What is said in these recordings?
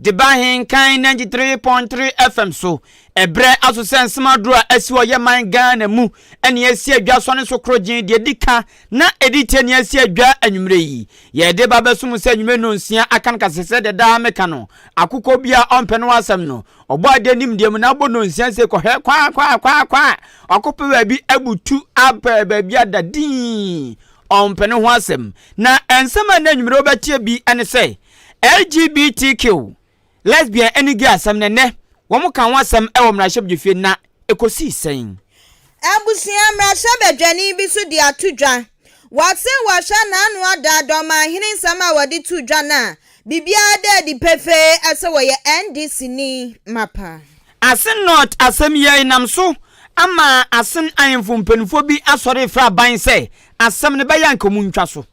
de ba Nkan ninety three point three FM so, ɛberɛ aso sɛ nsɛm aduro a asi wɔ yɛ man Ghana mu ɛne asi adwa sɔne so koro gyen deɛ ɛdi ka na ɛdi tie ne asi adwa anwummerɛ yi yɛde ba bɛso mu sɛ anwummerɛ nnɔnsia aka no ka sɛ sɛdeɛ daa me ka no akokɔ bi a ɔmpɛ no asɛm no ɔbɔ adeɛ nim deɛ mu na abɔ nnɔnsia se kɔhwɛ kwa kwa kwa kwa wakɔpɛ baabi abutu apɛ baabi ada din ɔmpɛ no ho asɛm na nsɛm a na anwummerɛ wobɛtie bi ɛne sɛ LGBTQ, lesbian ne gay asɛm no nnɛ wɔn ka ho asɛm wɔ mmarahyɛbdwafie na ɛkɔsii sɛn? Abusua mmarahyɛbadwani bi nso de ato dwa. Wɔse wɔhwɛ n'ano a daa dɛ ɔmanhene nsɛm a wɔde too dwa no a, biribiara da adi pefee sɛ wɔyɛ NDC ni mapa. Asen North asɛm yi ara nam so ama Asen ahemfo mpanimfoɔ bi asɔre refrɛ aban sɛ asɛm no bɛyɛ a anka wɔntwa so.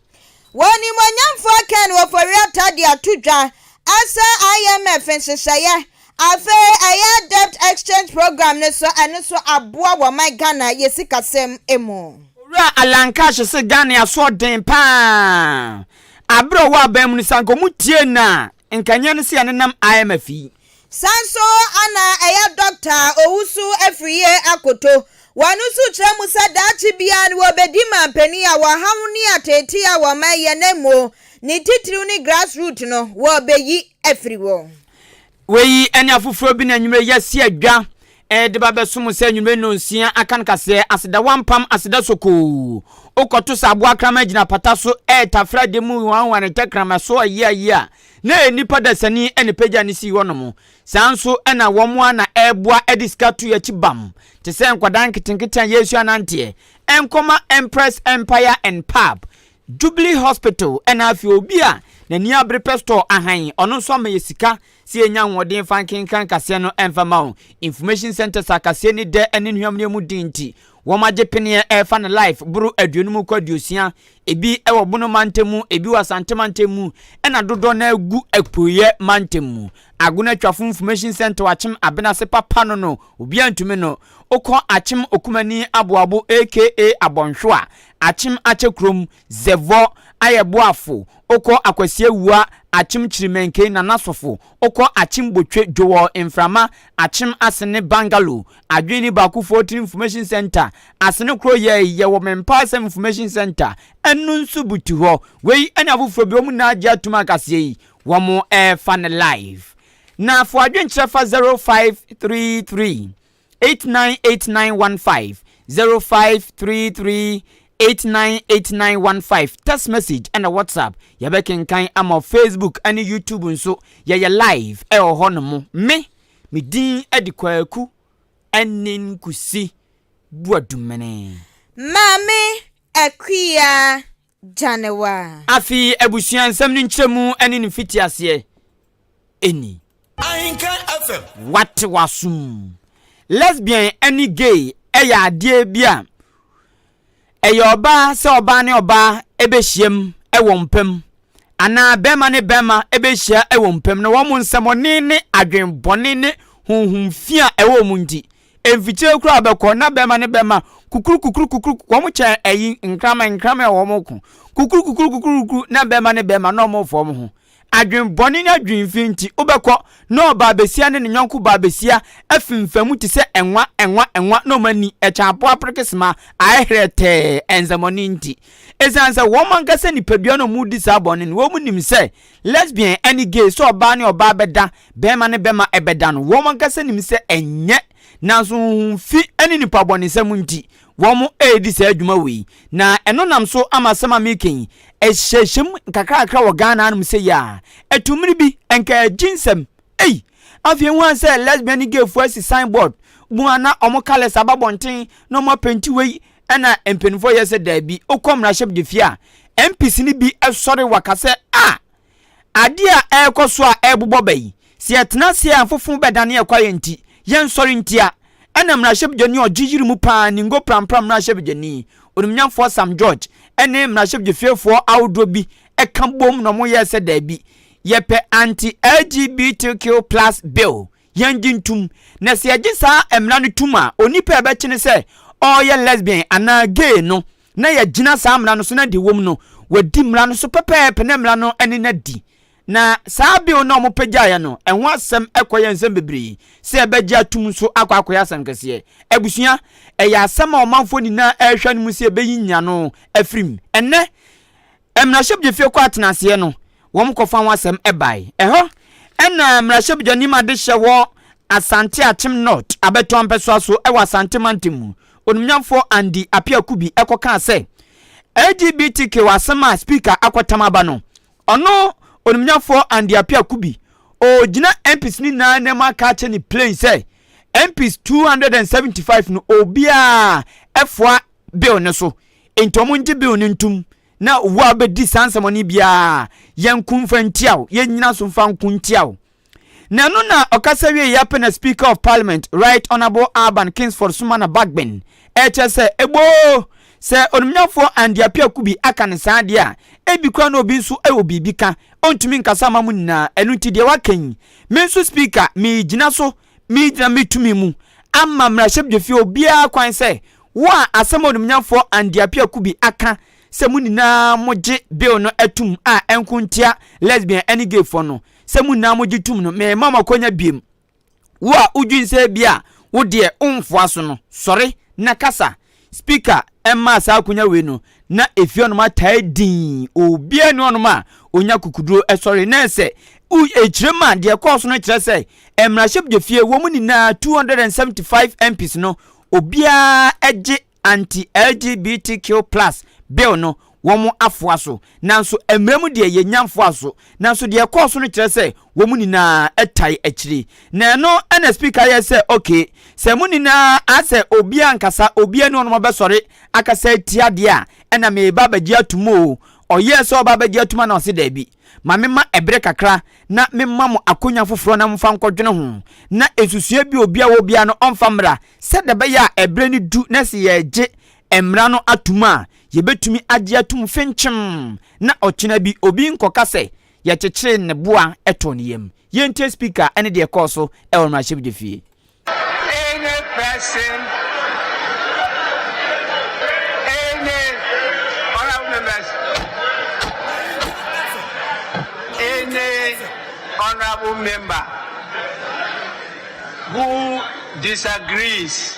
Wɔ animuonyamfo akan wɔ Foriata de ato dwa asɛ IMF nhyehyɛeɛ afei ɛyɛ debt exchange programme no so ɛno nso aboa wɔ ɔman Ghana yɛ sikasɛm mu. Owura Alan Cash se Ghane aso ɔden paa aberɛ ɔwɔ aban mu no sɛ anka ɔmo tie no a nka nyɛ no sɛ yɛnenam IMF yi. San so ana ɛyɛ dɔkta a owu so afiri yie akoto. Wɔ ɛno so kyerɛ mu sɛ daakye biara no wɔbɛdi manpanin a wɔhaw ne ateetee a wɔman yɛ na mmuo ne titiriw ne grass root no wɔbɛyi afiri hɔ. Wei ne afoforɔ bi na anwummerɛ yi asi adwa ɛde ba bɛsom sɛ anwummerɛ nnɔnsia aka no kaseɛ aseda wampam aseda sokoo wokɔto sɛ aboa kraman gyina apata so ɛretafra de mu wanwane tɛkrama so ayia yia Na nnipa dasani na epagya no sii hɔnom. Saa ara nso na wɔn ara na ɛreboa de sika to akyi bam te sɛ nkwadaa nketenkete a yɛresua nanteɛ. Ɛnkɔma Empress Empire and Pub, Jubilee Hospital na afei obi a n'ani abere pɛ store ahan, ɔno nso ama yɛ sika sɛ yɛnya ahoɔden mfa nkenkan kaseɛ no mfa mma wɔn. Information Centres a kaseɛ ani dɛ ne nhuammerɛ mu den nti, Wɔn agye peneɛ ɛfa ne life boro aduonum kɔ aduosia, ebi wɔ Bono mantam mu, ebi wɔ Asante mantam mu, ɛna dodoɔ no ara gu Apueɛ mantam mu. Agono Atwafo Information Centre Akyem Abenase papa no no obiara ntumi no, wokɔ Akyem Okumani Aboabo aka Abɔnhwewa, Akyem Akyɛ kurom, Zɛvɔ, Ayɛ Boafo, Okɔ Akwasia Wua, Akyem Kyirimenke, Nana Sofo, Okɔ Akyem Botwe, Joel Mframa, Akyem Asene Bungalow, Adwene Ni Baako Fortini Information Centre, Asene Koro Yɛi, Yɛwɔ Me Mpa Asɛm Information Centre, Ɛno Nso Butu Hɔ. Wei ɛne afoforɔ bi, wɔn nyinaa gye atom a kaseɛ yi wɔn ɛɛfa no live. Na fa w'adwenkyerɛ fa 0533. eight nine eight nine one five zero five three three eight nine eight nine one five text message ɛna whatsapp yɛbɛkenkan ama facebook ɛne youtube nso yɛyɛ live ɛwɔ hɔ no mo me me din ɛde kwaku ɛne nkusi buadumene. maame akuya January. Afei abusua nsɛm no nkyerɛmu ne ne mfitiaseɛ ni. Ahenka FM. Wate w'asom. Lesbian ne gay yɛ adeɛ bi a ɛyɛ ɔbaa sɛ ɔbaa ne ɔbaa bɛhyiam wɔ mpam anaa bɛrima ne bɛrima bɛhyia wɔ mpam na wɔn nsɛmɔne ne adwenbɔne ne honhom fi a ɛwɔ wɔn nti Mfikyire koraa bɛkɔ na bɛma ne bɛma kukuru kukuru kukuru wɔn kyɛ ɛyi nkraman nkraman wɔ wɔn ko kukuru kukuru kukuru kukuru na bɛma ne bɛma na wɔn fɔm ho adwene bɔne ne adwene fi nti wobɛkɔ na ɔbaa besia ne ne nyɔnko baa besia afimfamu te sɛ ɛnwa ɛnwa ɛnwa na wɔn ani ɛkyɛn apo apere sima aɛherɛ tɛɛ ɛnsɛmɔne nti esiane sɛ wɔn ankasa nipadua na wɔn di saa bɔne no wɔn nim sɛ Lesbian ɛne gay sɛ ɔbaa ne ɔbaa bɛda bɛɛma ne bɛma ɛbɛda no wɔn ankasa nim sɛ ɛnyɛ nanso honhom fi ɛne nipa bɔnesɛm nti wɔn ɛredi saa dwuma wei na ɛno nam so ama asɛm a mereka yi ɛhyɛhyɛm nkakrakra wɔ Ghana anom sɛ yi a ɛto mmere bi ɛnka agyi nsɛm ei afei hu an sɛ lesbian ne gay fo asi sign board bu ana wɔn colours aba bɔnten na wɔn apɛnti wei Ɛna mpanyinfoɔ yɛ sɛ daabi. Wokɔ mmarahyɛbdefie a, MPs no bi sɔre waka sɛ ah! Adeɛ a ɛrekɔ so a ɛrebobɔ ba yi, sɛ yɛtena ase a mfofo bɛdane yɛn kwaeɛ nti, yɛnsɔre ntia. Ɛna mmarahyɛbdwani a ɔgye yiri mu paa, Ningo Prampram mmarahyɛbdwani, Onimnyamfoɔ Sam George, ne mmarahyɛbdefiefoɔ ahodoɔ bi ka boom na wɔyɛɛ sɛ daabi, yɛpɛ anti-LGBTQ plus bill. yɛngye ntom, na sɛ yɛgye saa mmara no tom a, onipa a yɛbɛkye no sɛ ɔyɛ lesbian anaa gay no, na yɛagyina saa mmara no so na deɛ ɛwom no, wadi mmara no so pɛpɛɛpɛ na mmara no ne no adi. Na saa bill no a wɔpagyaeɛ no, ɛho asɛm kɔyɛ nsɛm bebree sɛ yɛbɛgye atom nso akɔ akɔyɛ asɛm kɛseɛ. Abusua, ɛyɛ asɛm a ɔmanfoɔ nyinaa rehwɛ anom sɛ yɛbɛyi nyiano afiri mu. Ɛnnɛ, mmarahyɛbdwafie kɔ atenaseɛ no wɔn kɔfa ho asɛm bae. Ɛhɔ na mmarahyɛbdwani ma de hyɛ wɔ Asante Akyem North abɛtɔ mpɛsoa so wɔ Asante mantam mu onimnyamfoɔ Andy Apiakubi kɔ kaa sɛ LGBTQ asɛm a speaker akɔtam aba no ɔno onimnyamfoɔ Andy Apiakubi ɔgyina MPs no nyinaa anim aka akyɛ ne plain sɛ MPs 275 no obiara ɛfoa bill no so nti ɔmo ngye bill no ntum na owu a ɔbɛdi saa nsɛmɔne biara yɛnko mfa ntia wo yɛnyina so mfa nko ntia wo na ɛno na ɔkasa wie yɛ pɛ na speaker of parliament right honourable Alban Kingsford Sumana Bagbin ɛkyɛ sɛ eboo sɛ onimnyafoɔ Andy Apiaku bi aka ne saa deɛ a ebi kora na obi nso ɛwɔ biribi ka ɔntumi nkasa ama mo nyinaa ɛno nti deɛ waka yi me nso speaker megyina so Megyina me tumi mu ama mmarahyɛbdwafie obiara kwan sɛ wo a asɛm a onimnyamfoɔ Andy Appiah Kubi aka sɛ mo nyinaa mo gye bill no atum a ɛnko ntia lesbian ɛne gay foɔ no sɛ mo nyinaa mo gye tum no mema mo akwanya biem wo a wodwen sɛ ebia wo deɛ wonfoa so no sɔre na kasa Speaker mmaa saa akonya wei no na ɛfiri hɔnom ataa dinn, obiara nni hɔnom a ɔnya kukuduro sɔre na ɛsɛ ɛkyerɛ mu a deɛ ɛkɔɔ so no kyerɛ sɛ mmarahyɛbdwafie wɔn nyinaa 275 MPs no obiara gye anti LGBTQ plus bill no wɔn afoa so, nanso mmara mu deɛ yɛnnya mfoa so. Nanso deɛ ɛkɔɔ so no kyerɛ sɛ wɔn nyinaa tae akyiri. Na ɛno na Speaker yɛɛ sɛ, Okay, sɛ mo nyinaa sɛ obiara nkasa, obiara nni hɔ nom ɔbɛsɔre akasa atia deɛ a, ɛna mereba abɛgye atom o. Ɔyɛɛ sɛ ɔreba abɛgye atom a na ɔse, Daabi, ma memma ɛbere kakra na memma mo akonwa foforɔ na momfa nkɔdwene ho, na nsusuiɛ bi a obiara wɔ biara no ɔmfa mmra, sɛdeɛ ɛbɛyɛ a ɛberɛ no du na se yɛregye Mmara no atom a yebetumi agye atom fenkyem na ɔkyena bi obi nkɔka sɛ yɛkyekyeree ne bo a ɛtɔɔ ne yam. Yɛntie Speaker ne deɛ ɛkɔɔ so wɔ mmarahyɛbedwafie. Any person, any honourable members, any honourable member who disagrees.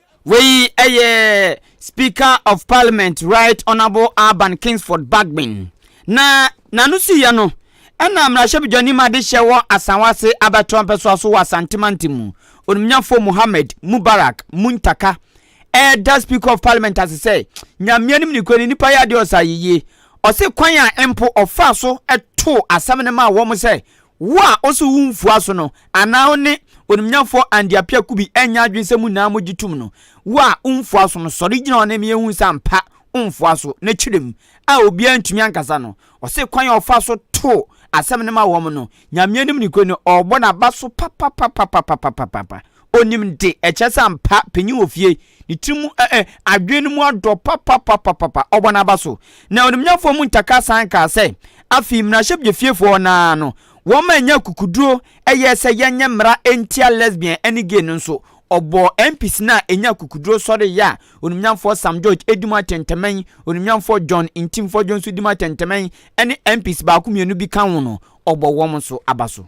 Wei yɛ Speaker of Parliament Right Honourable Alban Kingsford Bagbin na n'ano siiɛ no ɛna mmarahyɛbadwani ma de hyɛ wɔ Asawase abɛtoa mpɛsoa so wɔ Asante Mantam mu onimnyafoɔ Mohammed Mubarak Muntaka ɛda Speaker of Parliament ase sɛ Nyamea nim ne kura ne nipa yɛ adeɛ ɔsa yiyie ɔse kwan a mpo ɔfaa so too asɛm no maa wɔn sɛ Wo a ose wo mfua so no, anaa wo ne onimnyafoɔ Andy Appiah Kubi nyɛ adwene sɛ mo nyinaa mo gye tom no, wo a wo mfua so no, sɔre gyina hɔ na ɛma yɛnhu sɛ ampa wo mfua so. Na kyerɛ mu a obiara ntumi ankasa no, ɔse kwan a ɔfaa so too asɛm no ma wɔn no, Nyame anim nokorɛ ni, ɔrebɔ n'aba so papapapapapapapapa. Onim de ɛkyɛ sɛ ampa panyin wɔ fie, ne tiri mu ɛ ɛ adwene no mu adɔ papapapapapa, ɔbɔ n'aba so. Na onimnyafoɔ mu ntaka san kaa sɛ, Afei mmarahyɛbdwafiefoɔ no ara no, wɔma ɛnyɛ akukuduro ɛyɛ sɛ yɛnyɛ mmara ntia lesbian ɛne gay no nso. Ɔbɔɔ MPs no a ɛnyɛ akukuduro sɔre yɛ a onimnyafoɔ Sam George ɛdi mu atɛntɛmɛn, onimnyafoɔ John Ntimfɔdwo nso di mu atɛntɛmɛn ɛne MPs baako mmienu bi ka ho no, ɔbɔ wɔn nso aba so.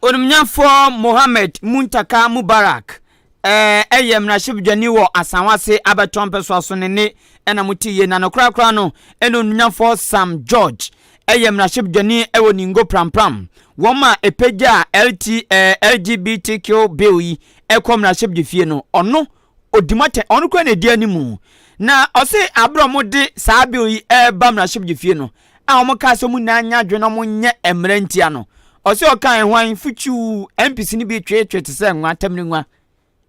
Onimnyamfoɔ Mohamed Muntaka Mubarak ɛɛ yɛ mmarahyɛbadwani wɔ Asawase abɛtɔ mpɛsoa so ne nne na mo te yie na no koraa koraa no ɛna onimnyamfoɔ Sam George ɛyɛ mmarahyɛbadwani ɛwɔ Ningo Prampram wɔn ma ɛpɛgyaa LT ɛɛ LGBTQ bill yi ɛkɔ mmarahyɛbdwafie no ɔno ɔdi mu atɛn, ɔno kura na ɛdi animu. Na ɔse aberɛ a wɔde saa bill yi ɛreba mmarahyɛbagye fie no a wɔn kaa sɛ wɔn nyinaa nyɛ adwene na wɔn nyɛ mmara ntia no, ɔse ɔkaa ɛho an futuu, MPs no bi tweetwee te sɛ nwa, tamire nwa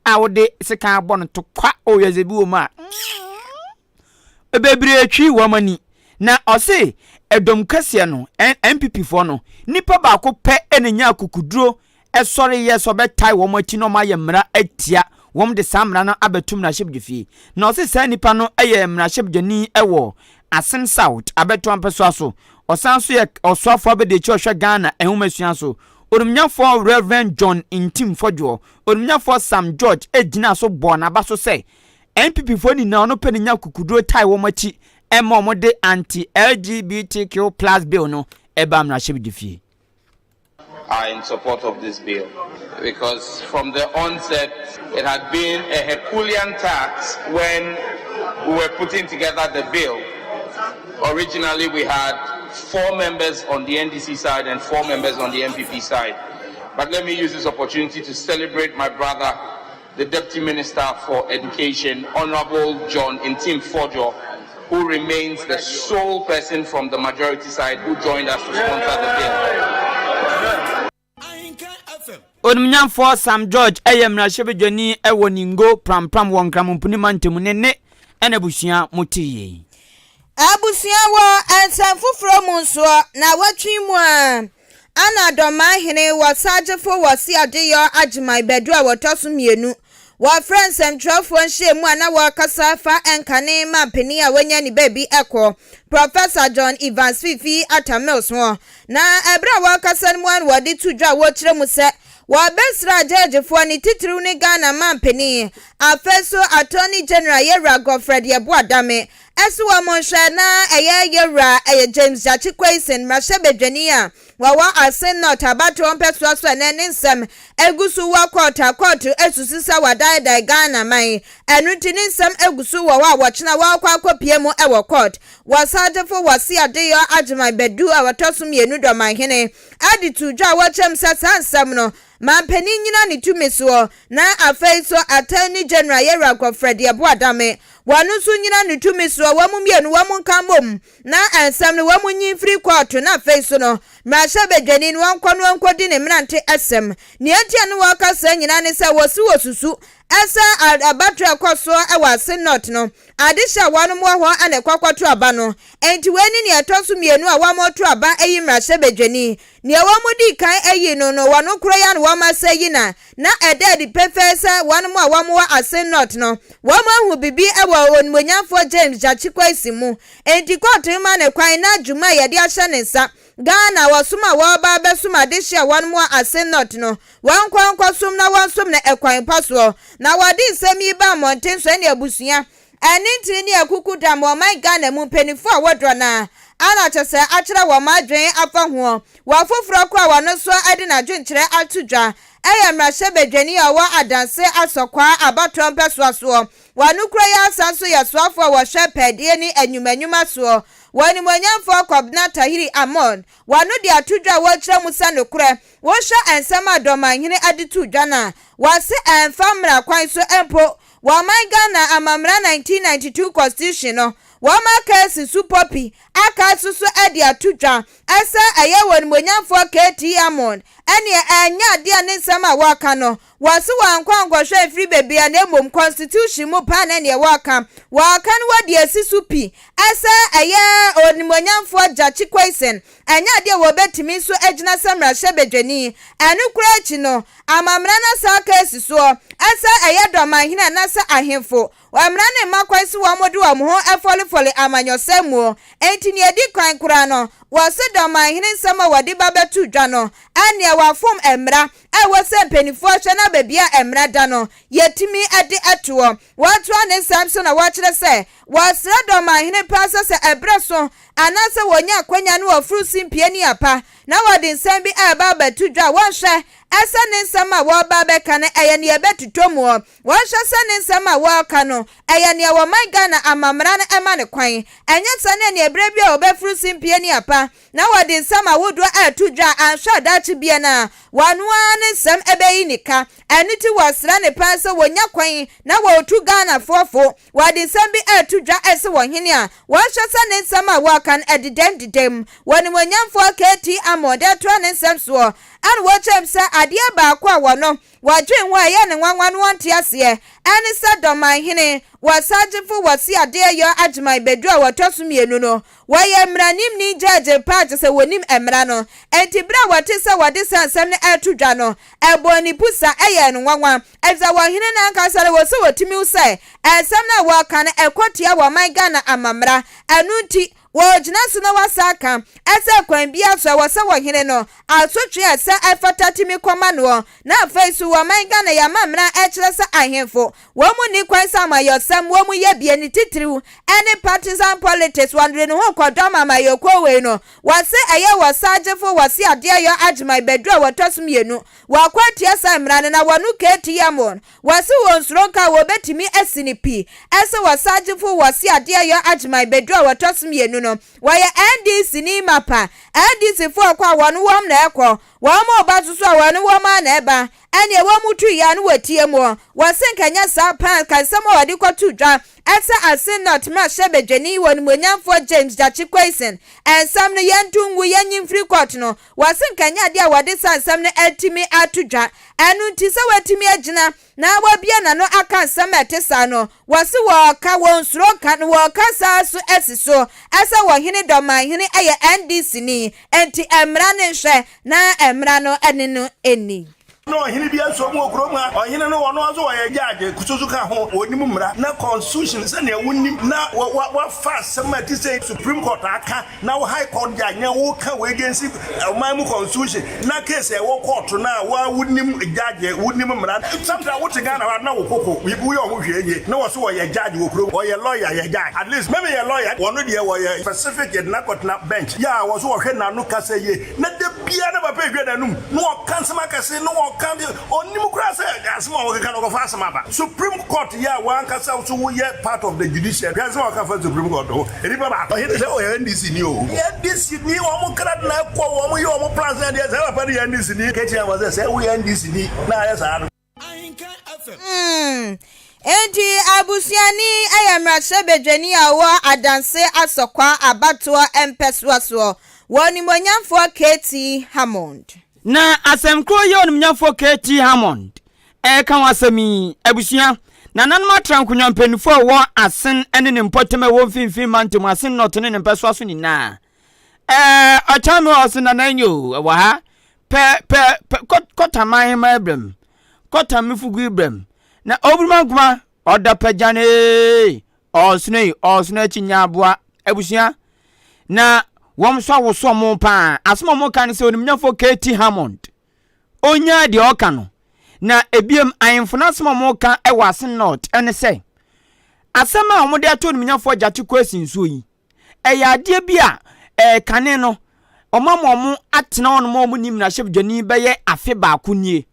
a wode sekan abɔ no tokwa, oh wiase bi wɔ mu a. bebree twi wɔn ani. Na ɔse ɛdɔm kɛseɛ no, NPP foɔ no, nipa baako pɛ na ɛnya akukuduro ɛsɔre yɛ sɛ ɔbɛtae wɔn akyi na wɔn ayɛ mmara atia wɔn de saa mmara no abɛto mmarahyɛbdwafie. Na ɔse saa nipa no yɛ mmarahyɛbdwani wɔ Asin South, Abɛto Ampasua so. Ɔsan nso yɛ ɔsoafoɔ abadiakyire a ɔhwɛ Ghana nwomasua so. Onimnyafoɔ Rev. John Ntim Fodwoɔ, Onimnyafoɔ Sam George gyinaa so bɔɔ n'aba so sɛ NPP foɔ nyinaa ɔno pɛ na nya kukuduro tae wɔn akyi ɛma wɔn de anti LGBTQ plus bill no ɛba mmarahyɛbedifie. are in support of this bill because from the onset it had been a Herculean task when we were putting together the bill. Originally we had four members on the NDC side and four members on the NPP side. But let me use this opportunity to celebrate my brother The Deputy Minister for Education, Honourable John Ntim Fordjour, who remains the sole person from the majority side who joined us to sponsor the bill. Onimnyamfoɔ Sam George yɛ mmarahyɛbadwani wɔ Ningo Pram Pram wɔ Nkramompuni mantam ne ne ɛna abusua mo te yei. Abusua wɔ nsɛm foforɔ mu nsoɔ, na wɔtwe mu a, Ana Dɔmahene wɔ sagyefo wɔ Seadeyɔ Agyemai Badu a wɔtɔ so mmienu. Wɔfrɛɛ nsɛmtwerɛfoɔ nhyiamu a na wɔrekasa fa nkane ma mpanin a wɔanya ne baabi kɔ, Professor John Evans Fifi Atta Mills ho. Na ɛberɛ a wɔrekasa no mu ara na wɔde to dwa a wɔkyerɛ mu sɛ wɔbɛsra gyɛɛgyefoɔ ne titiriw ne Ghana mampanin, afei nso Attorney General Yɛwura Godfred Yeboah Dame Ɛso wɔ mo nhwɛ na ɛyɛ yɛ wura ɛyɛ James Gyakye Quaison, mmarahyɛ badwani a wɔwɔ Asin North abatoɔ mpɛsoa so ɛnɛ ne nsɛm egu so wɔ kɔɔto a kɔɔto asusu sɛ wadaedae Ghana man ɛno nti ne nsɛm egu so wɔ hɔ a wɔkyena wɔɔkɔ akɔpie mu ɛwɔ kɔɔt wɔ Sagyefo Wɔse Adeyɔ Agyeman Badu a ɔtɔ so mmienu Dɔmanhene ɛde too dwa wɔ kyɛm sɛ saa nsɛm no Mampanin nyina ne tumi soɔ, na afei so Attorney General Yɛwura Godfred Yeboah Adame, wɔn nso nyina ne tumi soɔ, wɔn mmienu wɔn nka mmom na nsɛm no wɔn nyi mfiri kɔɔto na afei so no mmarahyɛbadwani no ɔnkɔ na ɔnkɔdi ne mmerante asɛm. Nea enti a na wɔreka saa nyina ne sɛ wɔse wɔsusu sɛ abatoɔ a ɛkɔ so wɔ Asin North no, adehye a wɔnom wɔ hɔ na ɛkɔ kɔto aba no, enti wei ne nea ɛtɔ so mmienu a wɔreto aba ayi mmarahyɛbadwani. Nea wɔdii kan ayi no no, wɔn koro yɛ na wɔma sɛ yi na na ɛda adi pefee sɛ wɔn a wɔwɔ Asin North no, wɔahu biribi wɔ Onimonyamfoɔ James Gyakye Quacy mu. Enti kɔɔto no ma no kwan na dwuma a yɛde ahyɛ ne nsa, Ghana wɔsom a wɔreba abɛsom adehye a wɔn wɔ Asin North no, wɔnkɔ nkɔsom na wɔnsom no ɛkwan pa soɔ. Na wɔde nsɛm yi baa mmɔnten sɛnea abusua Ɛne ntini ne akuku dam wɔ ɔman Ghana mu mpanyinfoɔ a wɔdɔ no a ana kyɛ sɛ akyerɛ wɔn adwene afa hoɔ wɔ afoforɔ koro a wɔno nso de nadwenkyerɛ ato dwa ɛyɛ mmarahyɛbadwani a ɔwɔ Adanse Asɔkwaa abatoɔ mpɛsoa soɔ wɔ ano kuro yi ara san nso yɛ soafoɔ a wɔhwɛ pɛɛdeɛ ne anwuma nwuma soɔ wɔ animuonyamfoɔ Kɔbena Tahiri Amon wɔ ano de ato dwa a wɔkyerɛ mu sɛ nokorɛ wohwɛ nsɛm a Dɔmanhene de too dwa no a wɔse ɛmfa mmara kwan so mpo Wɔ ɔman Ghana amammra 1992 constitution no wɔn aka asi so popi aka aso so adi ato dwa ɛsɛ ɛyɛ wɔ nimuonyamfoɔ KT Amon ɛneɛ ɛnyɛ adeɛ a ne nsɛm a wɔka no wɔ se wɔankɔ ankɔhwɛ mfiri bebia na mmom constitution mu paa na ɛneɛ wɔka wɔka no wɔdi asi so pi ɛsɛ ɛyɛ onimuonyamfoɔ Gyakye Quaison Ɛnyɛ ade a wɔbɛtumi so agyina sɛ mmarahyɛ badwani. Ɛno koraa akyi no, ama mmara no asan aka asi soɔ. Ɛsɛ ɛyɛ dɔ ma ahene anaasɛ ahemfo. Mmara no mma kwan sɛ wɔde wɔn ho fɔlefɔle amanyɔsɛm mu. Enti nea ɛdi kan koraa no, wɔse dɔ ma ahene nsɛm a wɔde ba bɛto dwa no. Ɛnneɛ wɔafom mmara a ɛwɔ sɛ mpanimfoɔ hwɛ na baabiara a mmara da no, yɛtumi de toɔ. Watoa ne nsɛm so na wakyerɛ sɛ wɔsrɛ dɔ ma ahene paa sɛ sɛ ɛberɛ so anaasɛ wɔnya akwanya no wɔforo si mpie ne apa na wɔde nsɛm bi a ɛba bɛto dwa a wɔnhwɛ sɛ ne nsɛm a wɔreba abɛka no ɛyɛ nea ɛbɛtotɔ mu ɔ wɔnhwɛ sɛ ne nsɛm a wɔreka no ɛyɛ nea wɔman Ghana amammara no ɛma no kwan ɛnyɛ saa ne ɛne ɛberɛ bi a wɔbɛforo si mpie ne apa na wɔde nsɛm ahodoɔ reto dwa a anhwɛ a daakye biara no ara wɔn ara ne nsɛm bɛyi ne ka. Ɛno nti wɔsrɛ no paa sɛ wɔnya kwan na wɔtu Ghanafoɔ fo. Wɔde nsɛm bi reto dwa se ɔhene a, wɔnhwɛ sɛ ne nsɛm a wɔreka no ɛdedam dedam. Onimuonyamfoɔ KT Amonde atoa ne nsɛm soɔ na wakyerɛ mu sɛ adeɛ baako a wɔno Wɔadwen ho a ɛyɛ no nwanwa no wɔnte aseɛ, ɛne sɛ Dɔman hene, Wɔsagyefo Wɔse Adeɛyɔ Agyeman bɛduru a wɔtɔ so mmienu no, wɔyɛ mmaranimni, judge, paa kyerɛ sɛ wɔnim mmara no. Enti berɛ a wɔtee sɛ wɔde saa nsɛm no reto dwa no, ɛbɔɔ ne pu sa, ɛyɛɛ no nwanwa, ɛfisɛ wɔn hene no ankasa no wɔ sɛ ɔtumi hu sɛ nsɛm no a wɔreka no ɛkɔ tia wɔn man Ghana amammara, ɛno nti, Wɔgyina so na wɔasan aka sɛ kwan biara so a ɛwɔ sɛ wɔhene no asotwe a ɛsɛ a ɛfata tumi kɔ ma noɔ. Na afei nso wɔ ɔman Ghana yi amammerɛ a ɛkyerɛ sɛ ahenfo wɔn nni kwan sɛ amayɔsɛm wɔn yɛ bie ne titiriw ɛne partisan politics wɔn de ne ho kɔ dɔm amayɔkuo wei no wɔse ɛyɛ wɔ sagyefo wɔse adeɛ yɔ agyeman bɛduru a wɔtɔ so mmienu wɔako atia saa mmara no na wɔno KTM wɔn Wɔse wɔ Nsronka wɔbɛtumi asi no pi sɛ wɔ Sagyefo wɔ Seadea yɔ Agyeman bɛduru a wɔtɔ so mmienu no wɔyɛ NDC ni mapa. NDC foɔ rekɔ a wɔn wɔm na ɛrekɔ, wɔn reba nso so a wɔn wɔm ara na ɛreba. Ɛneɛ wɔn tu yi a ne wɔtie mu ɔ. Wɔse nka ɛnyɛ saa paa anka nsɛm a wɔde kɔto dwa sɛ Asin North mmarahyɛ badwani wɔnimuonyamfoɔ James Gyakye Quayson nsɛm no yɛnto ngu yɛnyi mfiri court no Wɔse nka ɛnyɛ adeɛ a wɔde saa nsɛm no atumi ato dwa. Ɛno nti sɛ watumi agyina na wabue n'ano aka nsɛm a ɛte saa no, wɔse wɔka, wɔnsuro nka na wɔka saa nso asi so sɛ Ɔhene Dɔmanhene yɛ NDCni, enti mmara no nhwɛ na mmara no ne no nni. Na ɔhene bi nso wɔ kurom ha. Ɔhene no, ɔno nso ɔyɛ judge, kususu ka ho, onim mmara ne constitution sɛnea wonim, na wafa asɛm a ɛte sɛ Supreme Court aka, na wo High Court judge na woka wo agency ɔman mu constitution, na case a ɛwɔ kɔɔto no a, wo ara wonim judge, wonim mmara. Sometimes wote Ghana hɔ a, na wo koko, woyɛ wo ho hwee nie, na ɔse ɔyɛ judge wɔ kurom, ɔyɛ lawyer, yɛ judge, at least me meyɛ lawyer, ɔno deɛ ɔyɛ specific, yɛde no akɔtena bench, yeah, ɔse ɔhwɛ n'ano kasa yie. Na da biara na papa edwa n'anum na ɔka nsɛm akɛse na ɔka de ɔnnim koraa sɛ asɛm a ɔkeka no ɔkɔfa asɛm aba supreme court yɛ a w'ankasa nso woyɛ part of the judiciary hwɛ nsɛm a ɔka fa supreme court ho nnipa baako. Ɔhene sɛ ɔyɛ NDC ni oo. Yɛ NDC ni wɔn kra de na ɛkɔ wɔn yɛ wɔn plans ne adeɛ saa papa no yɛ NDC ni ketewa ma sɛ sɛ woyɛ NDC ni na ayɛ saa no. Hmm, enti abusuani yɛ mmarahyɛbadwani a ɔwɔ Adanse Asɔkwa abatoɔ mpɛsoa soɔ wɔ onimonyamfoɔ KT Hammond. Na asɛm korɔ yi a onimonyamfoɔ KT Hammond reka ho asɛm yi, abusua, nananom atra nkonnwa mpaninfoɔ a ɛwɔ Asen ne ne mpɔtam a ɛwɔ Mfinfini Mantam, Asen North ne ne mpɛsoa so nyinaa. Ɛɛ ɔkyɛn no a ɔse nana enye o ɛwɔ ha pɛ pɛ pɛ kɔ kɔta man hema ebrɛ mu kɔta me fugu ebrɛ mu na oburuma nkuma ɔda pagyan ee ɔɔsono yi ɔɔsono akyi nya aboa abusua na wɔn nso awoso ɔmo paa asom ɔmo ka no sɛ onimnyafo KT Hammond onyaa deɛ ɔka no na ebiem ahemfo no asɛm a ɔmo ka ɛwɔ asen north ɛne sɛ asɛm a wɔde ato onimnyafo agyate kwesi nsuo yi ɛyɛ adeɛ bi a ɛɛ kane no ɔma ma ɔmo atena hɔ nom a ɔmo nni mmarahyɛbedwanii bɛyɛ afe baako nie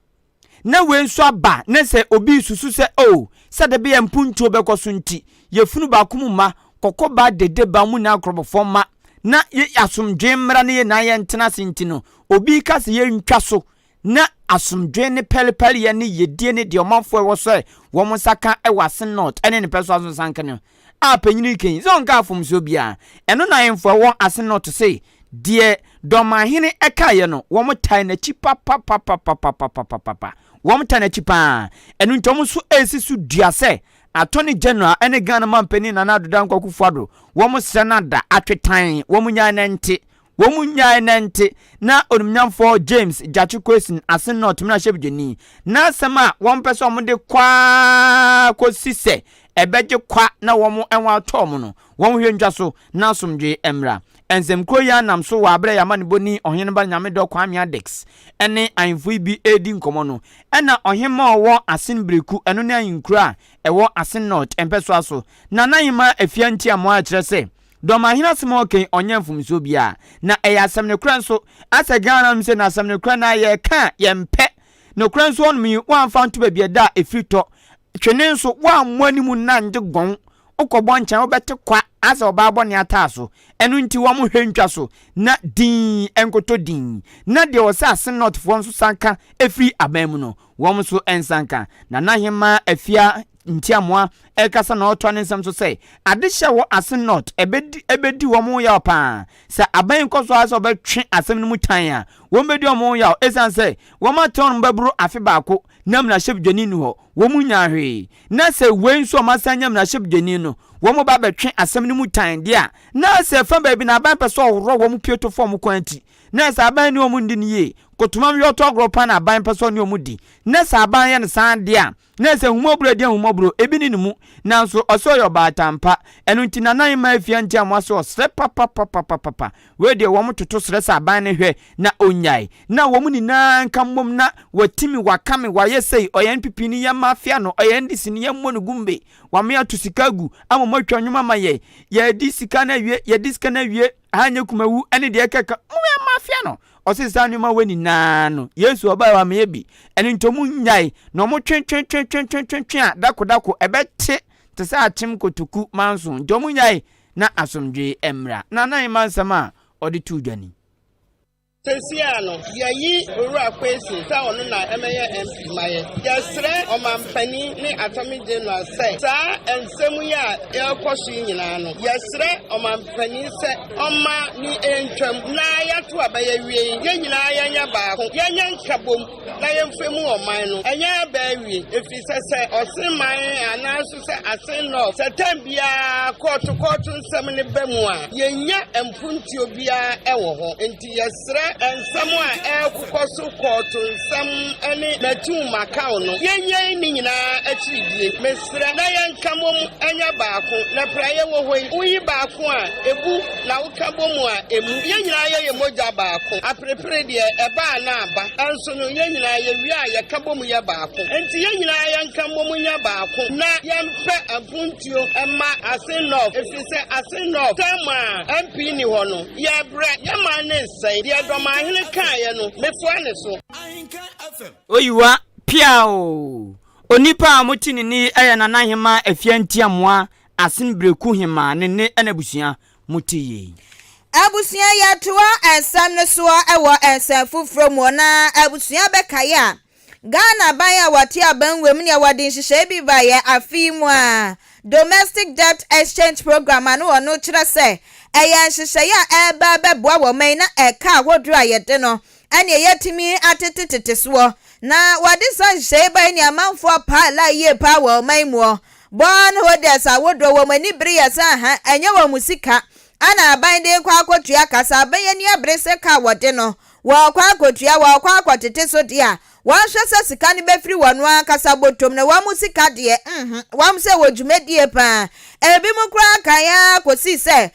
na wei nso aba ne sɛ obi susu sɛ oh sɛ de bɛyɛ mpuntuo bɛkɔ so nti yɛfunu baako mu ma kɔkɔ ba dede ba ɔmo nyinaa korɔbɔfɔ mma na yɛ asomdwee mmra na yɛ nyinaa yɛntena ase nti no obi ka sɛ yɛntwa so Na asomdwoe ne pɛrepɛreyɛ ne yiedie ne deɛ ɔmanfoɔ a ɛwɔ sɔre wɔn nsa ka wɔ asen North ne ne pɛsoa so sanka no a panyin yi kɛn sɛ ɔnka afomsoɔ biara. Ɛno na ahemfo a ɛwɔ asen North se deɛ Dɔmanhene kaeɛ no wɔn tae n'akyi papapapapapapapapapa. Wɔn tae n'akyi pa ara. Ɛno nti wɔn nso resi so dua sɛ Attorney General ne Ghana manpanin Nana Addo Dankwa Akufo-Addo wɔn srɛ no ada, atwetan, wɔn nyan na ɛnte. Wɔn nyae nante na onimnyamfoɔ James Gyakye Quayson Asen North mmarahyɛbedwani n'asɛm a wɔmpɛ sɛ wɔde kɔ ara kɔsi sɛ ɛbɛgye kwa na wɔn ɛho atɔ wɔn no, wɔnhwɛ ntwa so na asomdwoe mmra. Nsɛmkuo yi ara nam so wɔ aberɛ a Yɛamanibɔni Ɔheneba Nyamedɔ Kwame Adex ne ahemfo yi bi redi nkɔmmɔ no na Ɔhemmaa a ɔwɔ Asen Bereku, ɛno ne ahenkuro a ɛwɔ Asen North mpɛsoa so, Nana Ahemaa Afia Ntiamoa kyerɛ sɛ, Dɔmahene asɛm a ɔka yi ɔnyɛ mfomsoɔ biaa na ɛyɛ asɛm nokorɛ nso asɛ Ghana nom sɛ na asɛm nokorɛ naa yɛka a yɛmpɛ nokorɛ nso hɔnom yi woamfa nto baabi ɛda a ɛfiri tɔ twene nso woammɔ anim nna ngye gɔn wokɔbɔ nkyɛn wobɛte kwa asɛ ɔbaa bɔne ataa so ɛno nti wɔn hwɛ ntwa so na dinn nkotɔ dinn na deɛ ɔsɛ ase North foɔ nso san ka ɛfiri aban mu no Wɔn nso nsa nka. Nana Ahemaa Afia Ntiamoa rekasa na ɔretoa ne nsɛm so sɛ, Adehyɛ wɔ Asen North ɛbɛdi ɛbɛdi wɔn ho yaw pa ara. Sɛ aban yi kɔ so ara sɛ wɔbɛtwe asɛm no mu tan a, wɔbɛdi wɔn ho yaw esiane sɛ wɔatɛn wɔn bɛboro afe baako na mmarahyɛbdwani nni hɔ, wɔnnya hwee. Na sɛ wei nso a wɔasan anya mmarahyɛbdwani no, wɔba bɛtwe asɛm no mu tan deɛ a, na sɛ fa baabi no aban pɛ sɛ ɔworɔ wɔn pue to fam kwan ti. na sɛ aban ne wɔn nni no yie, kotomam yɛ ɔtɔ agorɔ paa na aban pɛ sɛ ɔne wɔn di, na sɛ aban yɛ no saa adeɛ a, na ɛsɛ ahummɔborɔ adi ahummɔborɔ, ebi ne ne mu, nanso ɔse ɔyɛ ɔbaatan pa, ɛno nti Nana Ayimaa Afia nti amoa se ɔsrɛ papapapapapa, wei deɛ wɔn toto srɛ sɛ aban no hwɛ na ɔnyae, na wɔn nyinaa nka mmom na watimi, wakame, wayɛ sei, ɔyɛ NPP ni yɛn mafia no, ɔyɛ NDC ni yɛn mmɔ no gumbe, wame ato sika agu ama wɔn atwa nnwom ama yɛn, yɛadi sika no awie, yɛadi sika no awie. Anyɛ kumawu ne deɛ ɛkɛka mu yɛ mafia no ɔse saa nneɛma wei nyinaa no Yesu ɔbae wa meyɛ bi ɛno nti ɔmo nnyae na ɔmo twe twe twe twe twe twe twe a dako dako ɛbɛte te sɛ akyem kotoku manso nti ɔmo nnyae na asomdwee mmra Nana Nyema nsɛm a ɔde too dwa ni. Sesiaa no yɛayi Owura Kwesi sɛ ɔno na ɛmɛyɛ MP ma yɛ. Yɛsrɛ Ɔmanpanin ne Attorney General sɛ saa nsɛm yi a ɛrekɔ so yi nyinaa no, yɛsrɛ Ɔmanpanin sɛ ɔmma ne ɛntwam na yɛto aba yɛawie yi, yɛn nyinaa yɛnyɛ baako, yɛnyɛ nkabom. na yɛmfa mu ɔman no. Ɛnyɛ aba awie, ɛfiri sɛ sɛ ɔsen man anaa nso sɛ asen nɔ sɛ tɛm biara kɔɔto kɔɔto nsɛm ne ba mu a, yɛnya mpuntuo biara ɛwɔ hɔ. Nti yɛsrɛ nsɛm a ɛrekokɔ so kɔɔto nsɛm ne matum makaw no, yɛnyɛi ne nyinaa akyiridie. Bra na yɛnka mmom nyɛ baako, na bere a yɛwɔ hɔ yi, wuyi baako a ebu na woka bɔ mu a emmu. Yɛn nyinaa yɛyɛ mogya baako. Aperepere deɛ, ɛba a na aba. Nanso no, yɛn nyinaa yewie a, yɛka bom yɛ baako. Enti yɛn nyinaa yɛnka mmom nyɛ baako, na yɛmpɛ apontuo mma Asin North, ɛfiri sɛ Asin North term a MP nni hɔ no, yɛrebrɛ, yɛn man no resɛe. Deɛ Dɔmanhene kaeɛ no, mefoa ne so. Oyiwa pia oo! Onipa a mote ne nne yi yɛ Nanahemaa Afia Ntiamoa Asen Brekuhemaa ne ne na abusua. Mote yei. Abusua yɛtoa nsɛm no soɔ wɔ nsɛm foforɔ muɔ na abusua bɛkaeɛ a Ghana aban a wɔte aban wɔ mu neɛ wɔde nhyehyɛe bi baeɛ afe yi mu a Domestic Debt Exchange Program ano wɔ no kyerɛ sɛ ɛyɛ nhyehyɛe a ɛreba abɛboa wɔ ɔman yi na ɛka ahodoɔ a yɛde no ɛnneɛ yɛatumi atete tete soɔ na wɔde saa nhyehyɛe yi bae ne amanfoɔ paa la yie paa wɔ ɔman muɔ. Bond holders ahodoɔ wɔn ani bere yɛ sɛ aha ɛnyɛ wɔn mu sika ana aban de rekɔ akɔtua ka, sɛ aban ani abere sɛ ka a wɔde no wɔrekɔ akɔtua wɔrekɔ akɔtete so deɛ a, Wɔnhwɛ sɛ sika no bɛfiri wɔn ankasa bɔtɔ mu na wɔamu sika deɛ, nhu wɔn sɛ wɔ dwumadie pa ara. Ebinom koraa kan ara kɔsii sɛ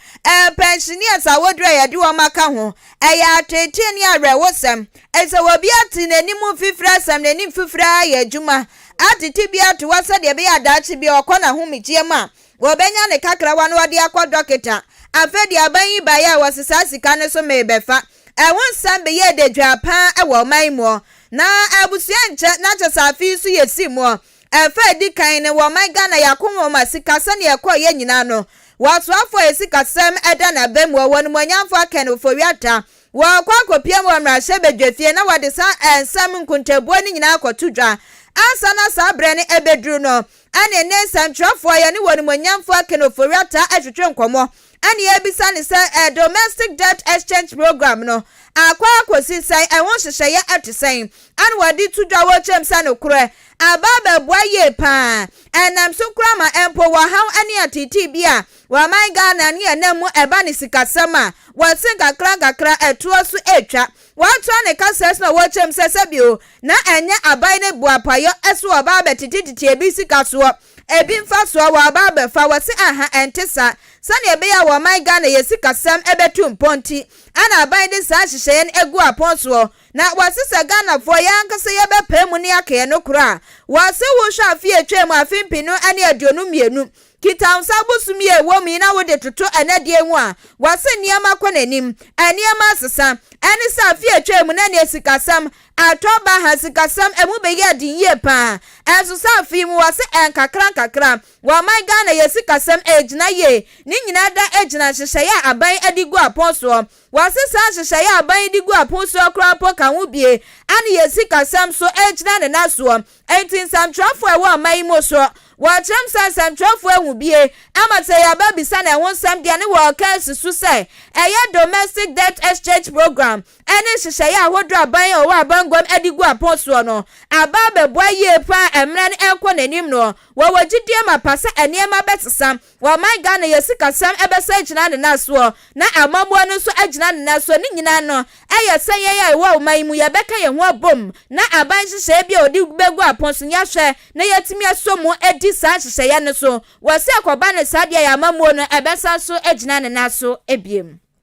pɛnhyeneɛs a wɔduru a yɛde wɔn aka ho. Ɛyɛ ateetee ne awerɛhosɛm. Ɛsɛ sɛ obi ate n'anim mfifire asɛm, n'ani mfifire ara ayɛ adwuma, atete bi ato hɔ sɛdeɛ ɛbɛyɛ a daakye biara ɔkɔ n'ahomegyeɛ mu a, ɔbɛnya ne kakrawa na ɔde akɔ dɔketa. Afei deɛ aban yi baeɛ a wɔsesaa sika no so mee bɛfa. a ɛho nsɛm beyɛɛ dadwaa paa wɔ ɔman yi mu ɔ, na abusua nkyɛ na kyɛ sɛ afe yi so yesii mu ɔ. Ɛfa a edi kan no, wɔ ɔman Ghana yi akɔnhoma sika sɛnea ɛkɔɔ yɛ nyinaa no, wɔ asoafo a asikasɛm da n'abam wɔ wɔn animuonyamfo Akan Ofori-Atta, wɔkɔ akɔpia mu wɔ mmarahyɛ badwafie na wɔde saa nsɛm nkontabuo no nyinaa akɔto dwa. Ansa na saa berɛ no ɛbɛduru no, ɛne ne nsɛmtwerɛfoɔ yi ne wɔn animuonyamfo Akan Ofori-Atta retwetwe nkɔmmɔ, Ɛnna yɛabisa no sɛ, Ɛ Domestic Debt Exchange Programme no akɔ akɔsi sɛn? Ɛho nhyehyɛeɛ te sɛn? Ɛnna wɔde to dwa wɔ kyɛm sɛ nokorɛ aba abɛboa yie pa ara. Ɛnam so koraa ma mpo wɔ haw ne ateetee bi a ɔman Ghana ne ɛnam mu ɛba ne sikasɛm a, wɔse nkakrankakra ɛtoɔ so retwa. Wɔatoa ne kaseɛ so na wɔ kyɛm sɛ sɛbio na ɛnyɛ aban ne boapayɔ so ɔba abɛtetetete ebi sika soɔ. Ebi mfaso a wɔaba abɛfa, wɔse anha ɛnte saa. Sɛnea ɛbɛyɛ a wɔn man Ghana yɛ sikasɛm ɛbɛtu mpɔn nti ɛna aban de saa nhyehyɛeɛ no agu apɔn soɔ. Na wɔse sɛ Ghanafoɔ yɛn ankasa yɛbɛpae mu ne yɛaka yɛn nokorɛ a, wɔse wohwɛ afe a ɛtwaam afe mpenu ne aduonu mmienu, kita wo nsa bosom yi a ɛwɔ mu yi na wode toto ɛnɛ deɛ ho a, wɔse nneɛma kɔ n'anim. Nneɛma asesa. Ɛne sɛ afe a ɛtwaam no ɛneɛ sikasɛm Ɛtɔ baha a sikasɛm ɛmu bɛyɛɛ den yie paa nso sɛ afei mu wɔ se ɛnkakra nkakra wɔ ɔman Ghana yɛ sikasɛm ɛɛgyina yie ne nyinaa da ɛgyina nhyehyɛeɛ a aban ɛde gu apon soɔ wɔ se saa nhyehyɛeɛ a aban de gu apon soɔ koraa mpo ka ho bie ɛne yɛ sikasɛm nso ɛɛgyina ne nan soɔ ɛnti nsɛmtwerɛfoɔ ɛwɔ ɔman yi mu nso wɔkyerɛm sɛ nsɛmtwerɛfoɔ ɛhu bie ɛma sɛ yɛ ba bisa ne ho nsɛm deɛ ne wɔɔka ɛsi so sɛ ɛyɛ domestic debt exchange program ɛne nhyehyɛeɛ ahodoɔ a aban a ɔwɔ abanguam de gu apɔn soɔ no aba abɛboa yie pa ara a mmara no rekɔ n'anim no. Wɔwɔ gyidie mapa sɛ nneɛma bɛsesa wɔ ɔman Ghana, yɛn sikasɛm bɛsan agyina ne nan soɔ na amammuo no nso agyina ne nan soɔ. Ne nyinaa no, ɛyɛ sɛ yɛn a yɛwɔ ɔman yi mu yɛbɛka yɛn ho abom na aban nhyehyɛeɛ biara a ɔde bɛgu apɔn so no yɛahwɛ na yɛatumi asɔ mu adi saa nhyehyɛeɛ no so wɔ sɛ ɛkɔba no saa deɛ a yɛn amammuo no bɛsan so agyina ne nan so bio.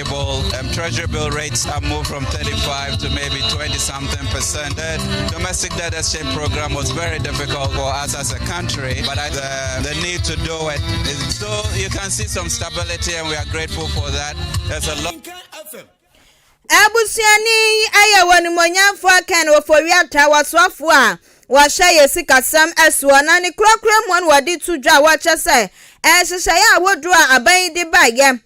Stable, um, treasury bill rates have moved from 35 to maybe 20 something percent. The domestic debt exchange program was very difficult for us as a country, but I, the, the need to do it. So you can see some stability, and we are grateful for that. There's a lot. abusuani yi ayɛ wɔn nimonyamfoɔ kan ofowiata wɔsoafoɔ a wɔhyɛ yɛ sikasɛm ɛsoɔ na ne kurakura mu wɔde to dwa wɔkyɛ sɛ ɛhyehyɛeɛ a wodoɔ a aban yi de baeɛ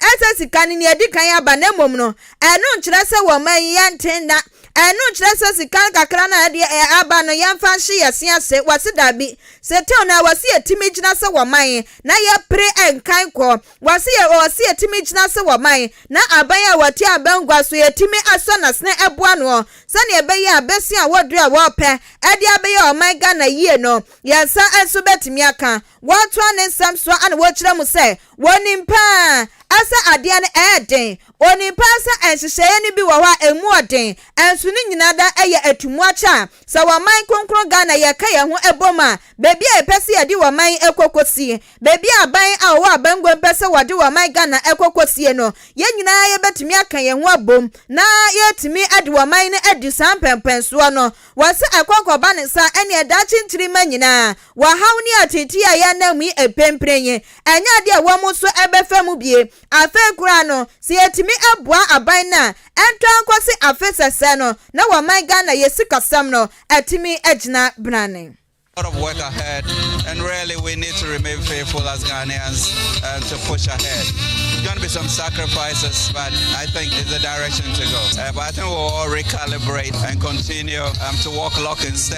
Ɛnsɛ sika no nea edi kan aba, na mmom no, ɛno nkyerɛ sɛ wɔ ɔman yi yɛnte nna. Ɛno nkyerɛ sɛ sika kakra no a ɛde ɛ aba no yɛmfa nhye yɛn se ase. Wɔse dabi. Setew no a wɔse yetumi gyina sɛ wɔ man na yɛpere nkan kɔ. Wɔse yɛ wɔse yetumi gyina sɛ wɔ man na aban a wɔte abangua so yetumi asɔ n'asene ɛboa noɔ sɛnea ɛbɛyɛ a bɛsua wɔ duro a wɔpɛ ɛde abɛyɛ ɔman Ghana yie no yɛn nsa nso bɛtumi aka. Wɔtoa ne nsɛm soa na wɔkyerɛ mu sɛ wɔnim paa sɛ adeɛ no ɛyɛ den. Ɔnim paa sɛ nhyehyɛeɛ no bi wɔ hɔ a ɛmu wɔ den. Nso ne nyinaa da yɛ atu mu akyɛ a sɛ wɔ man kronkron Ghana yɛka yɛn ho bom a baabi a yɛpɛ sɛ yɛde wɔ man kɔ kɔsie, baabi a aban a wɔwɔ abanguo mpɛ sɛ wɔde wɔ man Ghana kɔ kɔsie no, yɛn nyinaa yɛbɛtumi aka yɛn ho abom na yɛatumi de wɔ man no adi saa mpɛnpɛnsoɔ no. Wɔse akɔnkɔba ne nsa ɛneɛ daakye nkyirimma nyinaa Wɔhaw ne atseetsee a yɛnam mu yi mprempren yi, nnyɛ adze a hɔn so bɛfa mu bie. Afei koraa no, sɛ yetumi boa aban no a, nntɔ ara nkɔse afe sɛsɛɛ no na wɔ ɔman Ghana yɛ sikasɛm no atumi agyina branne. A lot of work ahead and really we need to remain faithful as Ghanaians and to push ahead. It's going to be some sacrifices but I think it's the direction to go. Uh, but I think we'll all recalibrate and continue um, to walk lock in step.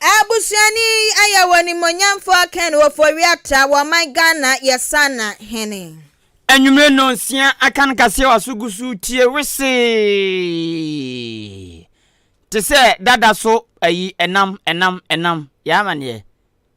Abusuani Ayaw Onimuonyamfoɔ Ken Ofori-Atta wɔ ɔman Ghana yɛ Sana hene. Anwummere nnɔnsia aka no kaseɛ wɔ aso gu so tie wesee te sɛ dada so ayi ɛnam ɛnam ɛnam yɛ amaneɛ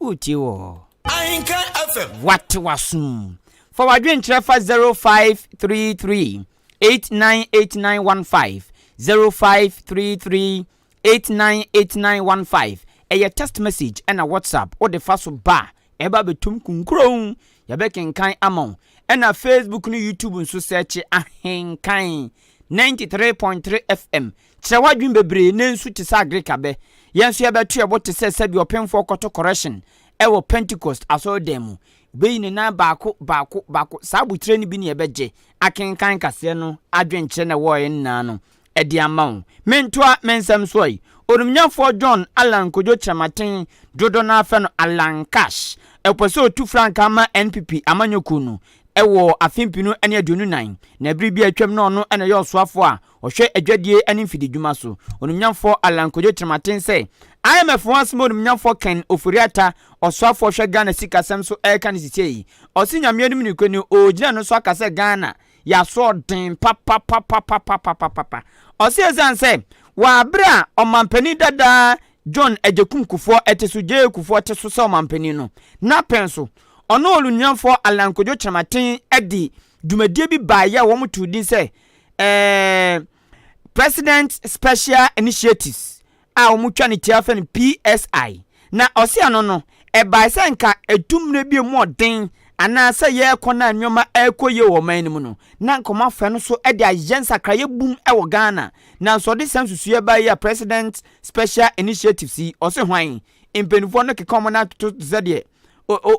Woretie wɔ. Ahenka FM. Wate w'asom. Fa w'adwenkyerɛ fa 0533 898915 0533 898915 ɛyɛ text message ɛna whatsapp wode fa so ba a ɛba bɛtom kunkurow yɛbɛkenkan ama wo ɛna facebook ne youtube nso sɛkye ahenkan 93.3 fm Kyerɛ w'adwene bebree na ensu te sɛ agric abɛ. Yɛn nso yɛbɛto yɛn bo te sɛ sɛdeɛ ɔpemfoɔ kɔto correction wɔ Pentecost asɔredan mu. Bɛyi ne nan baako, baako, baako. Saa abotire no bi na yɛbɛgye akenkan kaseɛ no adwenkyerɛ na ɛwɔɔɛ no nyinaa no de ama wo. Mentoa me nsɛm soɔ yi, Onimnyafoɔ John Allan Kojo Kyerematen, dodoɔ no ara frɛ no Allan Cash, ɔpɛ sɛ ɔtu frankaa ma NPP amanyɔkuo no wɔ afe mpenu ne aduonu nan, na berɛ bi a atwam na ɔno na ɛyɛ ɔsoafoɔ a Ɔhwɛ adwadie ne mfididwuma so onimnyamfoɔ Allan Kojo Kyerematen sɛ IMF ho asɛm a onimnyamfoɔ Ken Ofori-Atta Ɔsoafoɔ ɔhwɛ Ghana sikasɛm so ɛreka no sisi yi, ɔse Nyame anim nokorɛ ni ɔgyina ɛno so aka sɛ Ghana yɛ asoɔden papapapapapapapapa. Ɔse ɛsiane sɛ wɔ aberɛ a Ɔmanpanin dada John Agyekum Kufuor te so, JA Kufuor te so sɛ Ɔmanpanin no, na pɛn so ɔne onimnyamfoɔ Allan Kojo Kyerematen de dwumadie bi baeɛ a wɔtoo din sɛ eh, president special initiatives a wɔtwa ne tia fɛ no psi na ɔse ɛno no ɛbae sɛ nka ɛtu mmerɛ bi mu ɔden anaasɛ yɛrekɔ no a nneɛma ɛrekɔ yie wɔ ɔman no mu no na nka wɔafa no so de ayɛ nsakraeɛ bum wɔ ghana nanso ɔde saa nsusuiɛ baa yi a president special initiatives yi ɔse hwan mpanimfoɔ no keka wɔn atoto te sɛ deɛ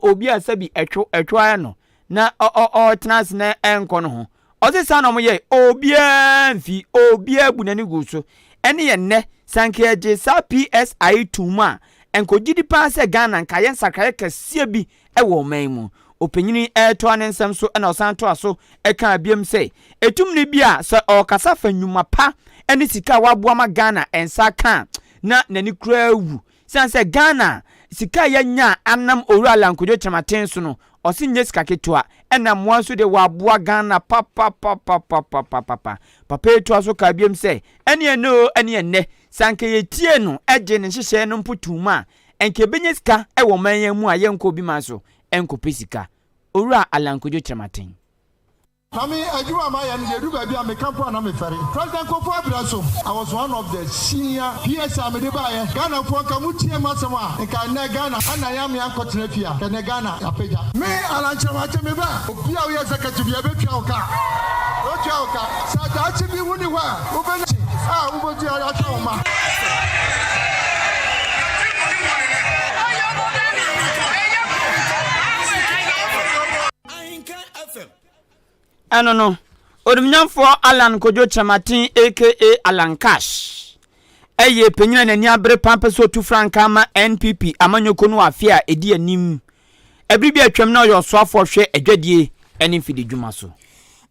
obi a sɛbi ɛtwo ɛtwo ara no na ɔtena ase na ɛnkɔ no ho. Ɔse saa na ɔmo yɛe, obiaa mfi, obiaa bu n'ani guu so. Ɛne yɛ nnɛ, sɛ anka yɛgye saa PSI yi toom a, ɛnka ɔgye di paa sɛ Ghana anka ayɛ nsakraeɛ kɛseɛ bi wɔ ɔman yi mu. Ɔpanyin yi retoa ne nsɛm so na ɔsan toa so kaa biom sɛ, Atumni bi a sɛ ɔɔkasa fa nnwuma pa ne sika a waboa ma Ghana nsa aka a, na n'ani koraa wu. Esiane sɛ Ghana sika a yɛanya anam Owura Lankudjo Kyerematen so no, ɔse nyɛ sika ketewa, ɛna mmoa nso deɛ wɔaboa Ghana papapapapapapapa. Papa yi toa so kaa biom sɛ, Ɛne ɛnnɛ oo, ɛne ɛnnɛ, sɛ anka yɛtiee no gyee ne nhyehyɛɛ no mpo toom a, anka yɛbɛnya sika wɔ ɔman yi ara mu a yɛnkɔ obi man so nkɔpɛ sika. Owura Alankudjo Kyerematen. Na me adwuma a mayɛ no deɛ ɛduru baabi a meka mpo a na mefɛre. President Kofour abrɛ so, I was one of the senior PS a mede baeɛ. Ghanafoɔ nka motie m'asɛm a, nka ɛnnɛ Ghana na yɛn amea nkɔtena fie a, nka ɛnnɛ Ghana yɛapagya. Me Alan Kyerematen me ba, obi a woyɛ executive yɛ bɛtua wo ka, yɛbɛtua wo ka. Sɛ daakye bi wo nni hɔ a, wobɛnya kye a wobɛtua de ahwɛ wo mma. Ahenka FM. Ɛno no, Onimuonyamfoɔ Allan Kojo Kyerematen aka Allan Cash yɛ panyin a n'ani abere paa pɛ sɛ ɔtu frankaa ma NPP amanyɔkuo no wɔ afe a ɛdi anim. Ɛbere bi a atwam na ɔyɛ ɔsoafoɔ hwɛ adwadie ne mfididwuma so.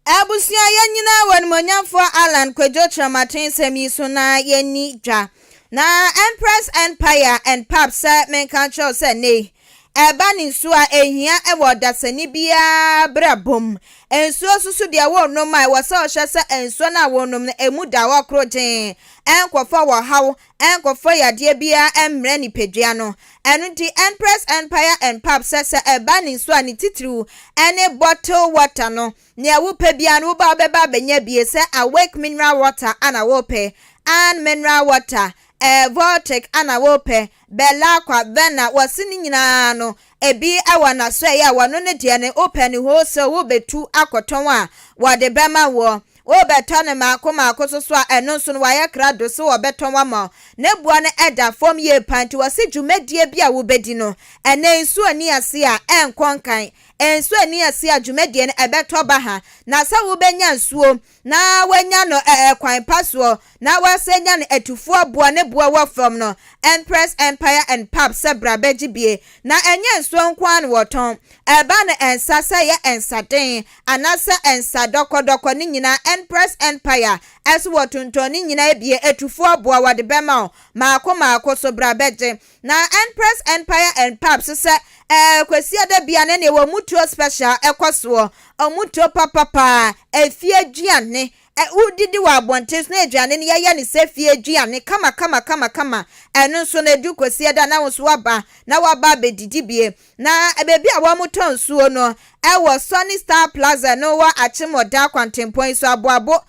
Abusua yɛn nyinaa wɔ Onimuonyamfoɔ Allan Kojo Kyerematen nsɛm yi so na yɛnni dwa. Na Empress Empire and Pap sɛ menka nkyerɛ wo sɛ nnɛ yi Ɛba ne nsuo a ɛhia wɔ ɔdasani biara brabɔ mu. Nsuo nso so deɛ worenom a ɛwɔ sɛ wohwɛ sɛ nsuo no a worenom no ɛmu da hɔ korogyenn, ɛnkɔfa wɔhaw, ɛnkɔfa yadeɛ biara ɛmmrɛ nipadua no. Ɛno nti Empress Empire and Pub sɛ sɛ ɛba ne nsuo a ne titiriw ɛne bottle water no. Nea wopɛ biara no woba wobɛba abɛnya bi sɛ Awake mineral water ana worepɛ, Ann mineral water, ɛɛ Voltic ana worepɛ, Belakwa, Vena, wɔse ne nyinaa no ebi wɔ n'asoɛe a wɔno no deɛ no wopɛ no hoo sɛ wobɛtu akɔtɔn a wɔde bɛma woɔ. Wobɛtɔ no maako maako so so a ɛno nso no wayɛ krado sɛ wɔbɛtɔn ama wo. Ne boɔ no da fam yie paa nti wɔse dwumadie bi a wobɛdi no ɛnɛ nsuo nni aseɛ a ɛnkɔ nkan. Nsuo nni aseɛ a dwumadie no ɛbɛtɔ baha na sɛ wobɛnya nsuo na wanya no kwan pa soɔ na w'asɛ nya no atufoɔ aboa ne boɔ wɔ fam no Empress Empire and Pub sɛ bra bɛgye bie na ɛnyɛ nsuo nko ara na wɔtɔn ɛba no nsa sɛ yɛ nsa den anasɛ nsa dɔkɔ dɔkɔ ne nyinaa Empress Empire ɛso wɔtontɔn ne nyinaa bie atufoɔ aboa wɔde bɛma wo maako maako so bra bɛgye Na Empress Empire and Pubs sɛ ɛɛ Kwasiada bia ne neɛ wɔ mutuo special ɛkɔ soɔ ɔmutuo papa paa ɛfie aduane wo didi wɔ abɔnten so na aduane no yɛyɛ no sɛ fie aduane kama kama kama kama ɛno nso no ɛdu Kwasiada na wo nso waba na waba abɛdidi bie Na baabi a wɔtɔ nsuo no wɔ Sunny Star Plaza no wɔ Akyemmɔda kwantempɔn yi so, Aboabo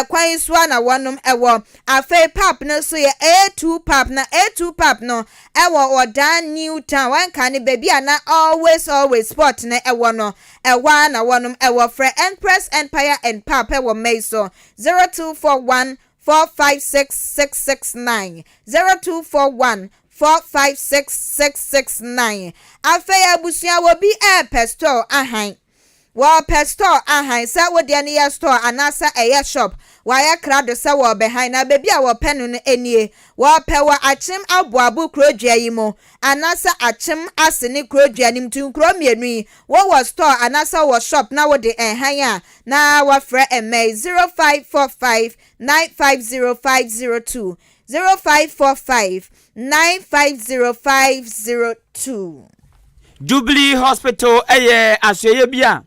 kwan yi so ara na wɔnom wɔ. Afei pap no nso yɛ A-Two Pap, na A-Two Pap no wɔ Ɔdaa New Town, ɛnka no baabi a na Always Always Spot no wɔ no, ɛhɔ ara na wɔnom wɔ. Frɛ Empress Empire and Pap wɔ mma yi so, zero two four one four five six six six nine zero two four one four five six six six nine afei abusua wɔ bi ɛɛpɛ store ahan wɔɔpɛ store ahan sɛ wo deɛ no yɛ store anaasɛ ɛyɛ shop wɔayɛ krado sɛ wɔɔbɛhan na baabi a wɔpɛ no no nie wɔɔpɛ wɔ akyem aboabo kurodua yi mu anaasɛ akyem ase ne kuro dua no mu nti nkuro mmienu yi wo wɔ store anaasɛ wo wɔ shop na wo de ɛhan a na wa frɛ mmɛyi zero five four five nine five zero five zero two zero five four five nine five zero five zero two. Jubilee Hospital yɛ asoɛeɛ bi a.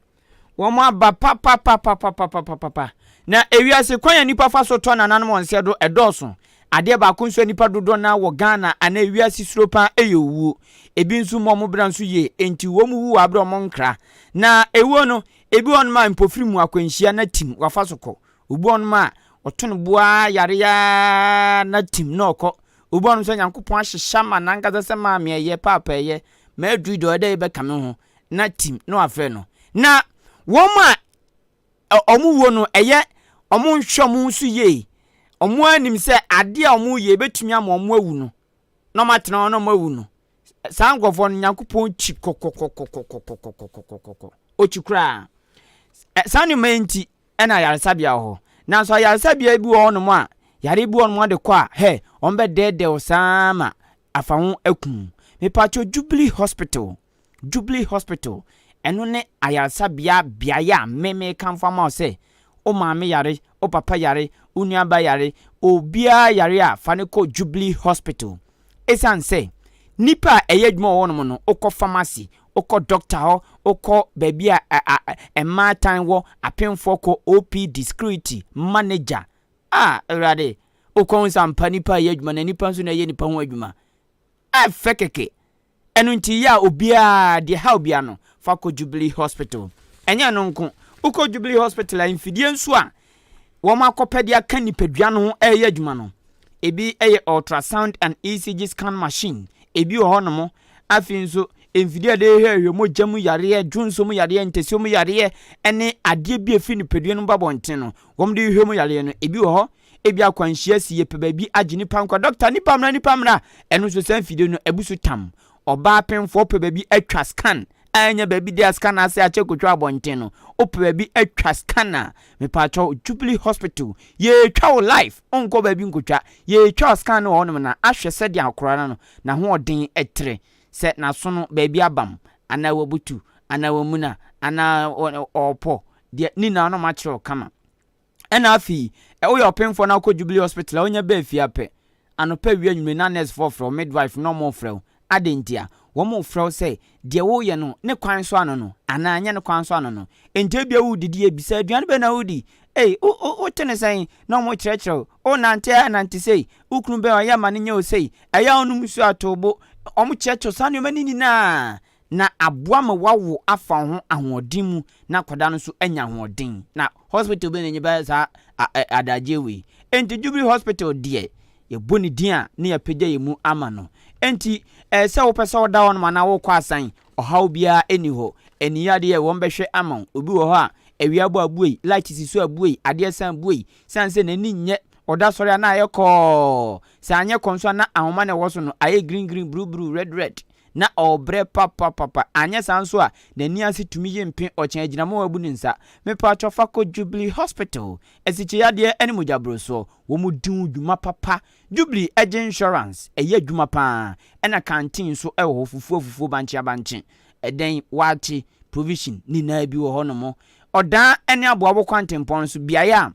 Wɔn aba papapapapapapapa. Na ewiase kwan a nnipa fa so tɔ nananom wɔn sɛ do ɛdɔɔso. Adeɛ baako nso a nnipa dodoɔ no ara wɔ Ghana anaa ewiase suro paa yɛ owuo. Ebi nso mmu wɔn bra nso yie, enti wɔn wu wɔ abere a wɔn nkra. Na ewuo no, ebi wɔ nom a mpofiri mu akwanhyia na tim wafa so kɔ. Obi wɔ nom a ɔto ne bo ara yare ara na tim na ɔkɔ. Obi wɔ nom nso a Nyankopɔn ahyehyɛ ama nankasa sɛ maame ɛyɛ, paapa ɛyɛ, m'adui deɛ ɔyɛ dɛ yɛ bɛka me ho. na tim na wafrɛ no na wɔn a wɔn wuo no ɛyɛ wɔn nhwɛ wɔn nso yie wɔn ara nim sɛ adeɛ a wɔn yɛ ebetumi ama wɔn awu no na wɔn atena hɔ na wɔn awu no saa nkurɔfoɔ no nyankopɔn kyi kɔkɔkɔkɔkɔkɔkɔkɔkɔkɔ okyi koraa saa nneɛma yi nti ɛna ayaresabea wɔ hɔ nanso ayaresabea bi wɔ hɔnom a yare bi wɔ hɔnom de kɔ a hɛ wɔn bɛdɛɛdɛw saa ma afa ho akum mepatwo jubilee hospital Jubilee Hospital, ɛno ne ayaresabea beaeɛ a me mekamfo ama wo sɛ wo maame yare, wo papa yare, wo nuaba yare, obiara yare a fa no kɔ Jubilee Hospital. Ɛsiane sɛ nnipa a ɛyɛ adwuma wɔ hɔnom no, wokɔ pharmacy, wokɔ doctor hɔ, wokɔ baabi a a, a, a mmaatan wɔ, apemfoɔ kɔ, OPD, security, manager. A, Awurade, wokɔ ho sɛ ampa nnipa a ɛyɛ adwuma na nnipa nso na ɛyɛ nnipa ho adwuma. Ɛfɛ kɛkɛ. Ɛno nti yɛ a obiara, deɛ ɛha obiara no, fa kɔ Jubilee Hospital. Ɛnyɛ ɛno nko, wokɔ Jubilee Hospital a, mfidie nso a wɔakɔpɛ de aka nipadua no ho reyɛ adwuma no, ebi yɛ ultrasound and ECG scan machine, ebi wɔ hɔnom, afei nso mfidie a yɛde hwehwɛ mogya mu yareɛ, dwonsɔ mu yareɛ, ntasuo mu yareɛ, ne adeɛ bi a ɛfiri nipadua no mu ba abɔnten no, wɔde hwehwɛ mu yareɛ no, ebi wɔ hɔ. Ebia akwanhyia si yɛpɛ baabi agye nipa nkwa dɔkta nipa mmara nipa mmara ɛno nso saa mfidie no abu so tam ɔbaa penfoɔ pɛ baabi atwa scan a ɛnyɛ baabi de a scan ase akyɛ kotwa abɔnten no wopɛ baabi atwa scan a mepaakyɛ Jubilee hospital yɛtwa wo life nkɔ baabi nkotwa yɛtwa scan no wɔ hɔnom na ahwɛ sɛdeɛ akora no no na ho ɔden ɛtere sɛ naso no baabi abam anaa wabutu anaa wamuna anaa ɔpɔ deɛ ne nyinaa no makyerɛ wo kama. Ɛna afei, ɛ, woyɛ ɔpemfoɔ na wokɔ Jubilee Hospital a, wonya baa fie a pɛ, anɔpa awia anwummere na nɛɛsefoɔ frɛ wo, midwife na wɔrefrɛ wo. Adɛn ntia? Wɔrefrɛ wo sɛ deɛ woreyɛ no, ne kwan so ano no, anaa ɛnyɛ ne kwan so ano no. Enti ebia woredidi a, bisa, Aduane bɛn na woredi? Ei, wo, wo, wote no sɛn? Na wɔrekyerɛkyerɛ wo. Worenante a, nante sei. Wo kunu bɛn? Ɔyɛ ma no nyɛ wo sei. Ɛyɛ a wonom nsuo a, to wo bo. Wɔkyerɛkyerɛ wo saa nneɛma no nyinaa. na aboa ma wawo afa wo ho ahoɔden mu na akwadaa no nso anya ahoɔden. Na hospital bɛn na ɛnyɛ bɛyɛ saa adagyeɛ wei. Enti Jubilee Hospital deɛ, yɛbɔ ne din a na yɛapagya yɛn mu ama no. Enti ɛyɛ sɛ wopɛ sɛ woda hɔnom anaa wokɔ asan, ɔhaw biara nni hɔ. Ani yɛ adeɛ a wɔbɛhwɛ ama wo. Obi wɔ hɔ a, awia abɔ a buei, light si so a buei, adeɛ san buei. Ɛsiane sɛ n'ani nyɛ, ɔda sɔre a na ayɛ kɔɔ. Sɛ anyɛ kɔɔ nso a na ahoma na ɛwɔ so no ayɛ green green, bruu bruu, red red. na ɔrebrɛ papapapa, anyɛ saa nso a n'ani ase tumi ye mpe ɔkyɛn agyinam a wabu ne nsa. Mepaatwɔ fa kɔ Jubilee Hospital, asikyeyadeɛ ɛne mogyaborosoɔ, wɔn di wo dwuma papa. Jubilee ɛgye insurance, ɛyɛ adwuma pa ara, ɛna canteen nso ɛwɔ hɔ, fufuo afufuo, bankye abankye, ɛdɛn, waakye, provision, nyinaa bi wɔ hɔ nom. Ɔdaa ɛne aboabo kwantempɔn nso, beaeɛ a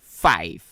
five.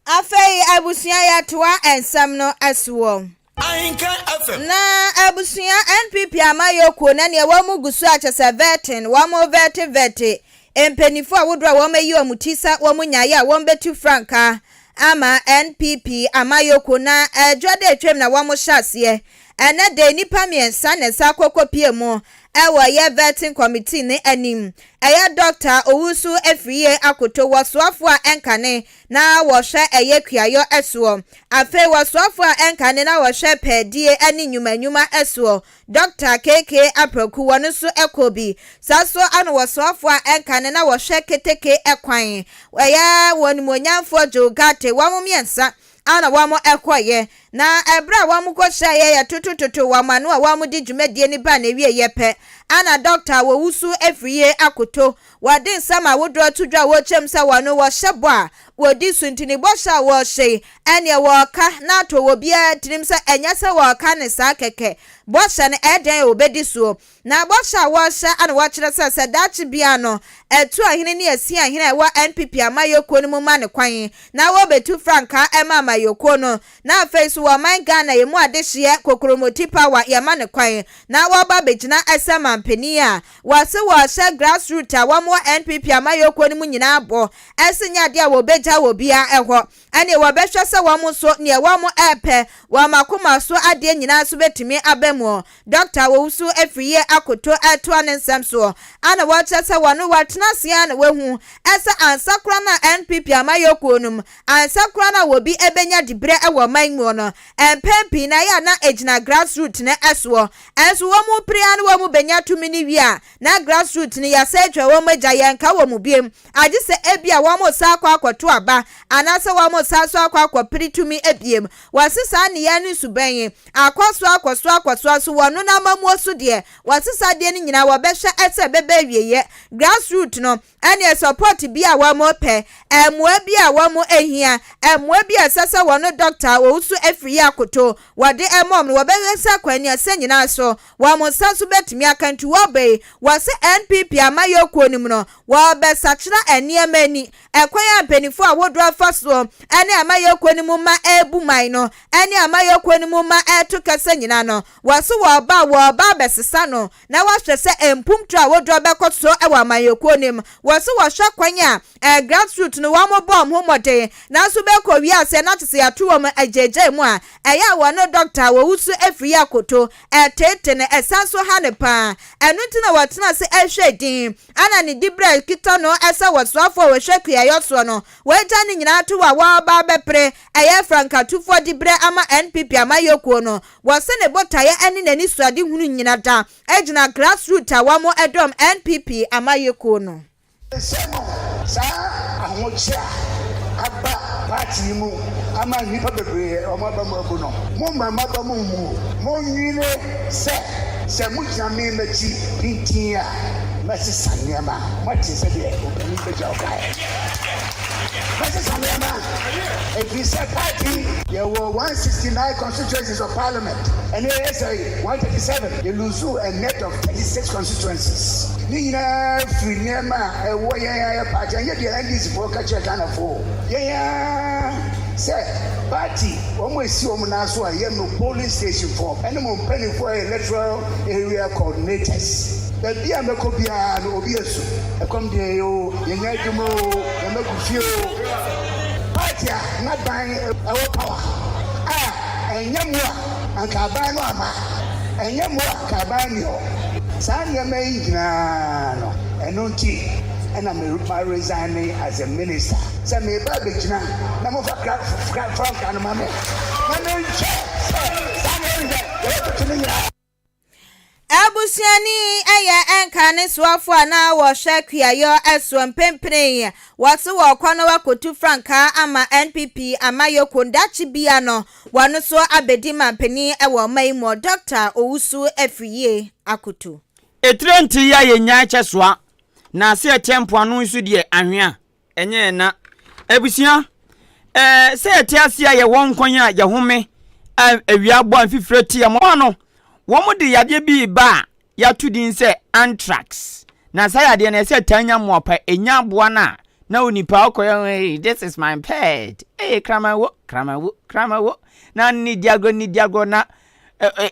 Afei abusua yɛtoa nsɛm no soɔ. Ahenka FM. Na abusua NPP amayɔkuo na neɛ wɔn mu gu so a kyɛsɛ vɛtin wɔn vɛti vɛti mpaninfoɔ a wodoɔ a wɔn ayi wɔn ti sɛ wɔn nyaeɛ a wɔn bɛtu frankaa ama NPP amayɔkuo na ɛdwa da atwam na wɔn hyɛ aseɛ ɛnɛ dɛ nnipa mmiɛnsa na ɛsa akɔ kɔ pie mu wɔ yɛ vetting committee ne anim. Ɛyɛ dɔkta, owusu afiriyie akoto, wɔsoafoɔ a ɛnkane na wɔhwɛ ɛyɛ kuayɔ soɔ. Afei wɔsoafoɔ a ɛnkane na wɔhwɛ pɛɛdie ne nnwuma nnwuma soɔ. Dɔkta KK Apraku, wɔn nso kɔ bi. Saa nso na wɔsoafoɔ a ɛnkane na wɔhwɛ keteke kwan, ɛyɛ wɔn animuonyamfoɔ Joe Ghartey, wɔn mmiɛnsa a na wɔkɔeɛ, na ɛberɛ a wɔkɔhyɛeɛ yɛ totototo wɔn ano a wɔde dwumadie no baa n'awieeɛ pɛ, ana dɔkta a wɔwusu afiri yi akoto. Wɔde nsɛm ahodoɔ to dwa a wɔkyerɛ mu sɛ wɔn wɔhyɛ bɔ a wɔdi so nti ne bɔhyɛ a wɔhyɛ yi ɛneɛ wɔka na ato obiara tirim sɛ ɛnyɛ sɛ wɔka no saa kɛkɛ. Bɔhyɛ no ɛdɛn a wɔbɛdi soɔ? Na bɔhyɛ a wɔrehyɛ a na wɔkyerɛ sɛ sɛ daakye biara no Atuahene ne Asiahene a ɛwɔ NPP amayɛkuo no mu ma no kwan na wɔbɛtu frankaa ɛma amayɛkuo no na afei nso wɔ ɔman Ghana yɛn mu adehyeɛ kokromoti power yɛma no kwan na wɔba bɛgyina sɛ manpanin a wɔse wɔrehyɛ grass root a wɔn wɔ NPP amayɛkuo no mu nyinaa bɔ ɛse nyɛ adeɛ a wɔbɛgya wɔ biara hɔ ɛnneɛ wɔbɛhwɛ sɛ wɔn nso deɛ wɔn repɛ wɔ wɔn akoma so adeɛ nyinaa nso bɛtumi aba mu. Dɔkta a wɔwusu afiri yie akoto retoa ne nsɛm soɔ a na wɔkyerɛ sɛ wɔne wɔatena ase ara na wɔahu sɛ ansa koraa na NPP amanyɔkuo no mu, ansa koraa na wɔbi bɛnya diberɛ wɔ ɔman mu no, mpɛn pii no ɛyɛ a na ɛgyina grass root no soɔ. Nso wɔn pere ara na wɔbɛnya tumi no wie a, na grass root no yɛasɛe atwa wɔn agya, yɛnka wɔn biom. agye sɛ ebia wɔresan akɔ akɔto aba anaasɛ wɔresan so akɔ akɔpere tumi biom. Wɔasesa nneyɛe no suban yi akɔ so akɔ so akɔ so ara so wɔ ɔno n'amammuo so deɛ. Wɔasesa adeɛ no nyinaa wɔbɛhwɛ sɛ ɛbɛba awieɛ. Grassroot no ɛneɛ support bi a wɔrepɛ, mmoa bi a wɔrehia, mmoa bi a ɛsɛ sɛ wɔn doctor a ɔwoso afiri yi akoto wɔde rema wɔn no wɔbɛhwɛ sɛ kwan no ɛsɛ nyinaa so wɔn nsa so bɛtumi aka. Nti wɔba yi wɔ sɛ NPP amayɔkuo no mu no Wɔrebɛsakyera nneɛma ani. Ɛkwan a mpanyinfoɔ ahodoɔ afa soɔ ɛne amayɔkuo no mu ma ɛrebu man no ɛne amayɔkuo no mu ma ɛreto kɛsɛ nyinaa no, wɔso wɔreba a wɔreba abɛsesa no na wɔahwɛ sɛ mpuntuo ahodoɔ bɛkɔ soɔ wɔ amanyɔkuo no mu. Wɔso wɔhwɛ kwan a ɛɛ grassroot no wɔn bɔ wɔn ho mmɔden nanso bɛkɔ wie aseɛ na kyɛ sɛ yɛato wɔn agyaagyaa mu a ɛyɛ a wɔne dɔkta a wɔwo su afiri yɛ akoto. Ɛtete no ɛsan so ha no paa ɛno nti na wɔtena ase ɛrehwɛ din. Ɛna ne dibrɛ kita no sɛ wɔsoafo a wɔhwɛ kuayɔ soɔ no wɔagya ne nyinaa to a wɔreba abɛpere ɛyɛ frankatufoɔ dibrɛ ama NPP amayɔkuo no. Wɔse ne botaeɛ ne n'anisuadehunu nyina da gyina grassroot a wɔn dɔm NPP amayɔkuo no. Sɛ no, saa ahokye a aba party yi mu ama nnipa bebree a wɔn aba mu abu no, mo mmarima ba mu mmuo, mo nwene. sɛ, Sɛ mogyina me mmati pintinn a, mɛsesa nneɛma. Moate sɛdeɛ ɔpanin bagya ɔkaeɛ? Mɛsesa nneɛma, ɛfiri sɛ party. Yɛwɔ 169 constituencies of parliament, ɛnna yɛyɛ sɛ 137. Yɛluusuu a net of 36 constituencies. Ne nyinaa firi nneɛma a ɛwɔ yɛn ara yɛn party, ɛnyɛ deɛ NDCfoɔ ka kyerɛɛ Ghanafoɔ o, yɛn ara sɛ party. Wɔn a esi wɔn nan so a ɛyɛ mo polling station foɔ ɛne mo mpaninfoɔ yɛ electoral area coordinators. Baabi a mɛkɔ biara no obi ɛsu ɛkɔm deɛ yɛ oo, yɛnya adwuma oo, yɛma gu fie oo. Party a n'aban ɛwɔ power a ɛnyɛ mo a anka aban no ama, ɛnyɛ mo a anka aban nni hɔ. Saa nneɛma yi nyinaa no ɛno nti ɛna me resign as a minister. Sɛ mereba abɛgyina na mofa frankaa no ma me na menhwɛ sɛ saa na ɛreyɛ yɛwɔ tete no nyinaa. Abusuani yɛ nkanesoafoɔ a na wɔhwɛ kuayɔ soɔ. Mprempren wɔse wɔrekɔ na wɔakɔtu frankaa ama NPP amayɔkuo no. Daakye bia no, wɔn nso abɛdi manpanin wɔ ɔman yi mu. Dɔkta Owusu Afriyie akoto. Etire ntiria yɛ nyan kyɛ soa, na ase ɛkyɛ mpoano nso deɛ anhwea. Ɛnyɛ ɛna. Abusua, ɛɛ sɛ yɛte ase a yɛwɔ nkwan a yɛhome a awia bɔ a mfifire te yɛn mmoa no, wɔn de yadeɛ bi reba a yɛato din sɛ anthrax. Na saa yadeɛ no ɛsɛ taa nya mmoa pa, ɛnya aboa no a na onipa ɔkɔyɛ hey this is my pet hey kraman wo kraman wo kraman wo na ne di agorɔ ne di agorɔ na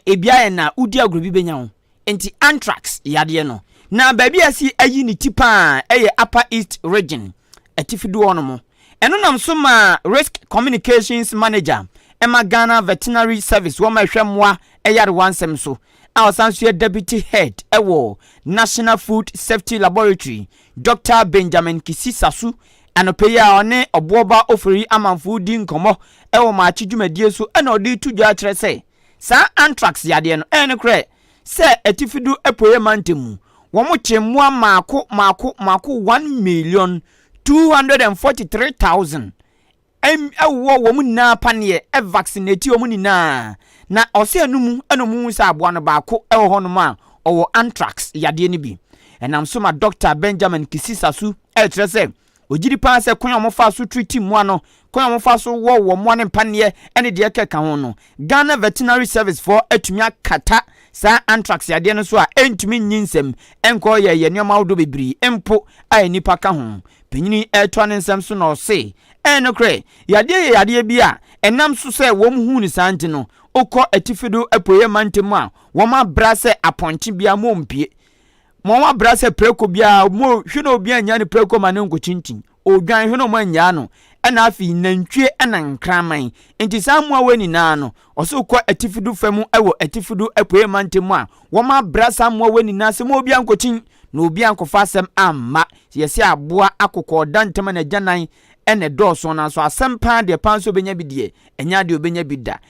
ebi ayɛ na wodi agorɔ bi bɛnya wo. Enti anthrax yadeɛ no, na baabi a ɛsi ayi ne ti pa ara yɛ Upper East Region, Atifi Doɔ no mu. Ɛno nam so maa Risk Communications Manager ma Ghana Veterinary Service, wɔn a ɛhwɛ mmoa nyarewa nsɛm so, a ɔsan nso yɛ Deputy Head wɔ National Food Safety Laboratory, Dɔkta Benjamin Kisisasu, anɔpa yi a ɔne Ɔboɔba Ofori amanfoɔ redi nkɔmmɔ wɔ Maakye dwumadie so na ɔde reto dwa kyerɛ sɛ, Saa anthrax yadeɛ no, ɛyɛ nokorɛ sɛ Atifi do Apueɛ Mantam mu, wɔkyee mmoa maako maako maako one million two hundred and forty three thousand ɛwɔ wɔn nyinaa paneɛ ɛvaccinatii wɔn nyinaa na ɔsɛ ɛno mu ɛna wɔn hu sɛ aboa no baako ɛwɔ hɔnom a ɔwɔ anthrax yadeɛ no bi. Ɛnam so ma Dɔkta Benjamin Kisisasu ɛkyerɛ sɛ Ɔgye di paa sɛ kwan a wɔfaa so triti mmoa no, kwan a wɔfaa so wɔwɔ mmoa no mpaneɛ ne deɛ ɛkeka ho no, Ghana Veterinary Service foɔ atumi akata saa anthrax yadeɛ no so a ɛntumi nnye nsam nkɔ yɛyɛ nneɛma ahodoɔ bebree mpo a nnipa ka ho. Panyini yi retoa ne nsɛm so na ɔse, Ɛyɛ nokorɛ, yadeɛ yɛ yadeɛ bi a ɛnam so sɛ wɔn huu no saa nti no, wokɔ atifi do apueɛ mantam a wɔabrɛ sɛ apɔnkye biara mu ɔmpue. Ma ɔn abra sɛ prako biara, mo hwe na obi annya ne prako ma ne nko kyinkyin, odwan hwe na ɔmo annyaa no, ɛna afei nantwie ɛna nkraman. Enti saa mmoawa nyinaa no, ɔsoro kɔ atifi do fa mu ɛwɔ atifi do apueɛ mantam mu a, wɔn abra saa mmoawa nyinaa sɛ ma obi ankokyin, na obi ankɔfa asɛm amma. Sɛ yɛse aboa akokɔ ɔda ntem a n'agyanan ɛna ɛdɔɔso nanso asɛm paa deɛ paa nso obenya bi deɛ, ɛnyɛ adeɛ obenya bi da.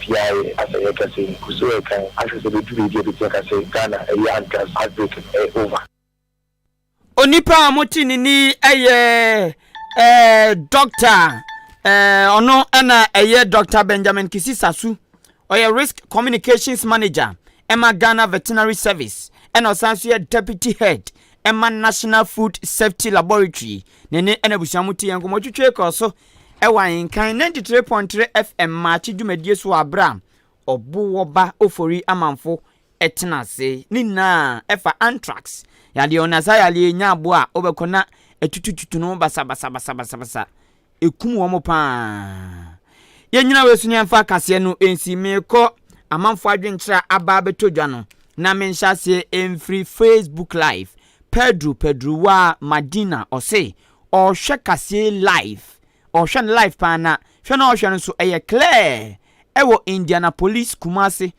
Biaɛ a sɛ yɛ kɛse yi gu so ɛkan ahwɛ sɛ ɛbɛdu baabi a ɛbɛtumi aka sɛ Ghana ɛyɛ anthrax outbreak no ɛyɛ over. Onipa a mote ne ni yɛ eh, dɔkta eh, ɔno ɛna ɛyɛ Dr. Benjamin Kisi Sasu ɔyɛ Risk Communications Manager ɛma Ghana Veterinary Service ɛna ɔsan so yɛ Deputy Head ɛma National Food Safety Laboratory ne ne ɛna abusua mo te yɛn nkɔmmɔ twitwe kɔɔ so wɔ Ahenkan ninety three point three FM Maakye dwumadie so wɔ berɛ a Ɔbowoba Ofori amanfo tena ase. Ne nyinaa ɛfa anthrax yadeɛ ho na saa yadeɛ yi nya aboa a wobɛkɔ na atutututu no basabasabasabasa ɛkum wɔn paa. Yɛnyina wei so ne yɛmfa akaseɛ no nsi meekɔ amanfo adwenkyerɛ a aba abɛtɔ dwa no na menhyɛ aseɛ mfiri Facebook live Pedro Pedrowa Madina ɔse Ɔhwɛ kaseɛ live ɔhwɛ no live paa na hwɛ no a ɔhwɛ no nso ɛyɛ clear ɛwɔ Indianapolis Kumasi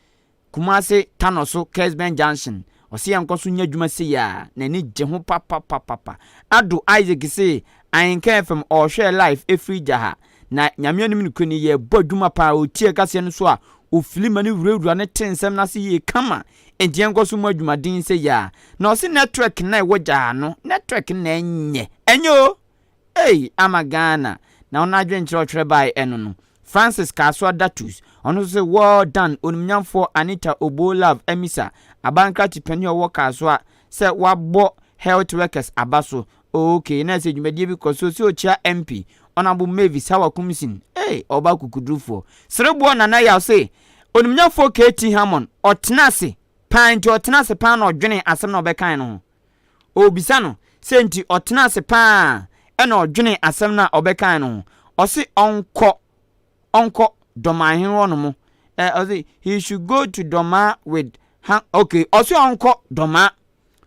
Kumasi Tano so Kersben Junction ɔse yɛnkɔ so nyɛ adwuma sei a n'ani gye ho papapapapa Addo Isaac se Ahenka FM ɔhwɛ live ɛfiri gya ha na Nyame anim nokorɛ ni yɛbɔ adwuma paa ɔtie kaseɛ no so a ɔfili ma no wurawura no te nsɛm no ase yie kama Enti yɛnkɔ so mmɔ adwumaden sei a. Na ɔse network na ɛwɔ gyaa no network na ɛnyɛ ɛnyɛ o ei ama Ghana na ɔno adwene nkyerɛ ɔtwerɛ bae ɛno no Francis Kasoa Datus ɔno nso se well done onimnyamfoɔ Anita Oboo Love Amisa abankrate panin a ɔwɔ Kasoa sɛ wabɔ health workers aba so Okay, na sɛ dwumadie bi kɔ so sɛ ɔkyia MP, Honourable Mavis Hawa Kumsin, ei, ɔba akokodurufoɔ, Sereboɔ Nana Yaw se, Onimnyafoɔ KT Hammond, ɔtena ase paa nti ɔtena ase paa na ɔdwene asɛm na ɔbɛkae no ho. Ɔrebisa no sɛ nti ɔtena ase paa na ɔdwene asɛm no a ɔbɛkae no ho. Ɔse ɔnkɔ. ɔnkɔ dɔmaa hene hɔ nom ɛ ɔsi he should go to dɔmaa with ha okay ɔsi ɔnkɔ dɔmaa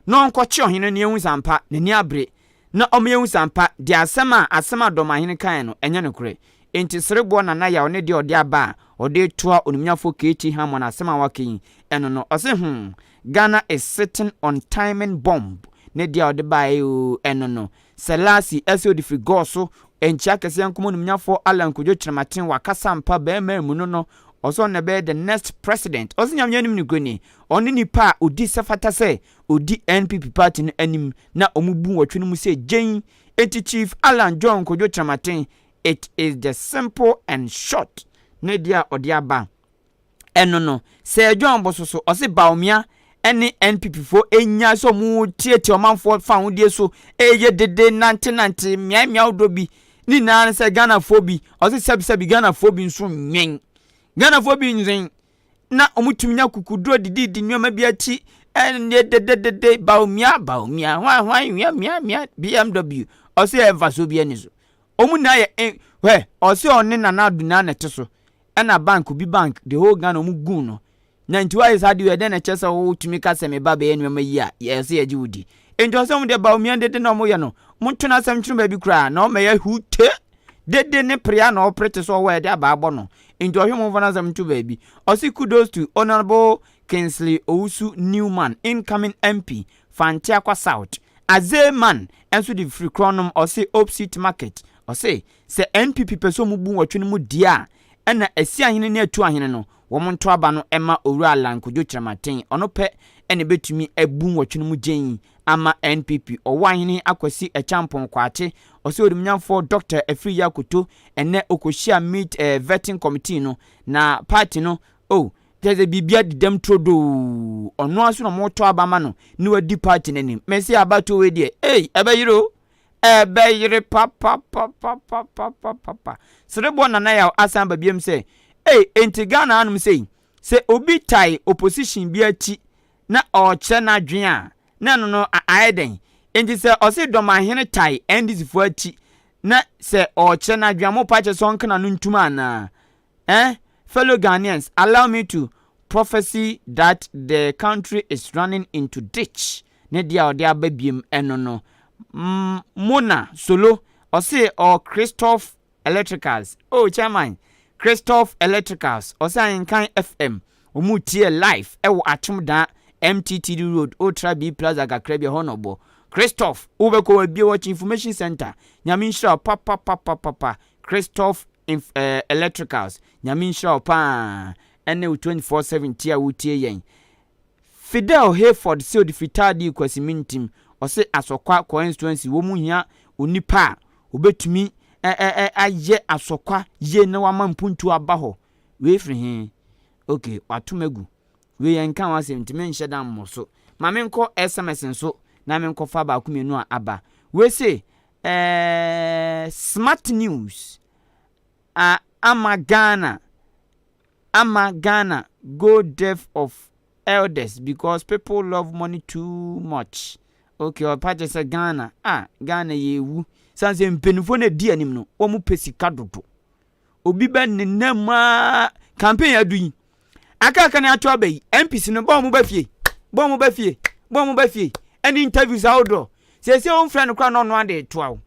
na ɔnkɔ kye ɔhene na ehu sampa n'ani abere na ɔmo ehu sampa de asɛm a asɛm a dɔmaa hene kan no ɛnyɛ no korɛ nti sereboɔ nana yaw ne deɛ ɔde aba a ɔde toa onimnyafo KT Hammon asɛm a waka yi ɛno no ɔsi hmm Ghana is sitting on timing bomb ne deɛ ɔde baeɛ oo ɛno no Selassie ɛsɛ odi firi God so nkyea kɛseɛ nkom onimnyafɔɔ Allan Kwadwo Kyerematen wakasa ampa bɛɛma mu no no ɔsɛ ɔno na ɛbɛyɛ the next president ɔsɛ Nyame anim nikuoni ɔne nipa a odi sɛ fata sɛ odi NPP party no anim na ɔmo bu nwɔtwe no mu sɛ gyen enti Chief Allan John Kwadwo Kyerematen it is the simple and short ne deɛ a ɔde aba. ɛno no Sir John Bososo ɔse Bawumia ɛne NPP fo ɛnyae sɛ ɔmo tiatia ɔmanfoɔ fahodie so ɛyɛ dede nante nante mmeae mmeae ahodoɔ bi ne nyinaa ne sɛ Ghanafoɔ bi ɔse sɛbi sɛbi Ghanafoɔ bi nso nwɛn Ghanafoɔ bi nwɛn na ɔmo tumi nya kukuduro didi di nneɛma bi akyi ɛne dede dede Bawumia Bawumia hwan hwan wia mia mia BMW ɔse ɛmfa so bi ɛne so ɔmo nyinaa yɛ hwɛ ɔse ɔne Nana Ado nyinaa na ɛte so Ɛna bank obi bank the whole Ghana ɔmo guu no na nti wayɛ saa deɛ ɛdɛn na ɛkyɛ sɛ wo tumi ka sɛ me ba bɛyɛ nneɛma yi a yɛ sɛ yɛgye wo di nti ɔsɛ ɔmo deɛ Bawumia dede na ɔmo yɛ no mo nto no asɛm twene baabi koraa na ɔma yɛ hu te dede ne prea na ɔpere te sɛ ɔwɔ a yɛde aba abɔ no nti ɔhwe mo nfa no asɛm nto baabi ɔse kudos to honourable Kingsley Owusu Newman incoming MP for Anteakwa South Azeman ɛnso de firi korɔnom ɔse Opsit Market ɔse Sɛ NPP pɛ sɛ ɔmo bu nwɔtwe no mu deɛ a, ɛna Asiahene ne Atuahene no, wɔn nto aba no ɛma Owura Allan Kwadwo Kyerematen, ɔno pɛ ɛna ɛbɛtumi abu nwɔtwe no mu gyeen ama NPP, Ɔwɔ Ahene Akwasi Acheampong Kwakye, Ɔsɛ Onimnyamfoɔ Dɔkta Afriyie Akoto, ɛnɛ ɔkɔhyia meet eh, vetting committee no, na party no, oh, kyerɛ sɛ biribiara di dɛm turodoo, ɔno ara nso na wɔtɔ aba ama no ne wadi party no anim, mese abatoɔ wei deɛ, ei, ɛbɛyere o, Ɛbɛyere papapapapapapapa. Serebɔ Nana Yaw asan aba biom sɛ, Ei, enti Ghana hanom sei, sɛ obi tae opposition bi akyi na ɔɔkyerɛ n'adwene a, na ɛno no a ayɛ dɛn? Enti sɛ ɔse Dɔmahene tae NDC foɔ akyi na sɛ ɔɔkyerɛ n'adwene a, mopa kyɛ sɛ ɔnka n'ano ntum anaa? Eh fellow Ghanaians allow me to prophecy that the country is running into ditch ne deɛ a ɔde aba biem ɛno no Mona Solo ɔse ɔɔ Christoph Electricals oh chairman Christoph Electricals ɔse ahenkan FM ɔmo tiɛ live ɛwɔ Atwomdaa MTTD road wotra B plaza kakra bi ɛhɔ na ɔbɔ Christoph wobɛkɔ wabie watch information center Nyame nhyira wo papapapapapa Christoph inf eh, Electricals, Nyame nhyira wo paa ɛne wo 24/7 tie a wotie yɛn. Fidel Hayford se ɔde firi Tardee kɔ Asimintim, ɔse Asɔkwa Coenstuency wɔn hia onipa a ɔbɛtumi eh eh eh ayɛ Asɔkwa yie na wama mpuntuo aba hɔ. Wei firi he? Ok, wato me agu. Wei ɛnka ho asɛm nti menhyɛ da mmɔ so. Ma menkɔ sms nso na menkɔfa baako mmienu a aba. Wei se Eeeii smart news ah ama Ghana ama Ghana go deaf of elders because people love money too much okay ɔpa kyɛ sɛ Ghana ah Ghana yɛ ewu sane sɛ mpanyinfoɔ na edi anim no wɔn pɛ sika dodo obi bɛ nenam mu aa campaign adu yi aka aka ne ato aba yi npc no bɔn mo ba fie bɔn mo ba fie bɔn mo ba fie ɛne interviews ahodoɔ sɛsɛ wɔn fira no kora na ɔno ade toa wo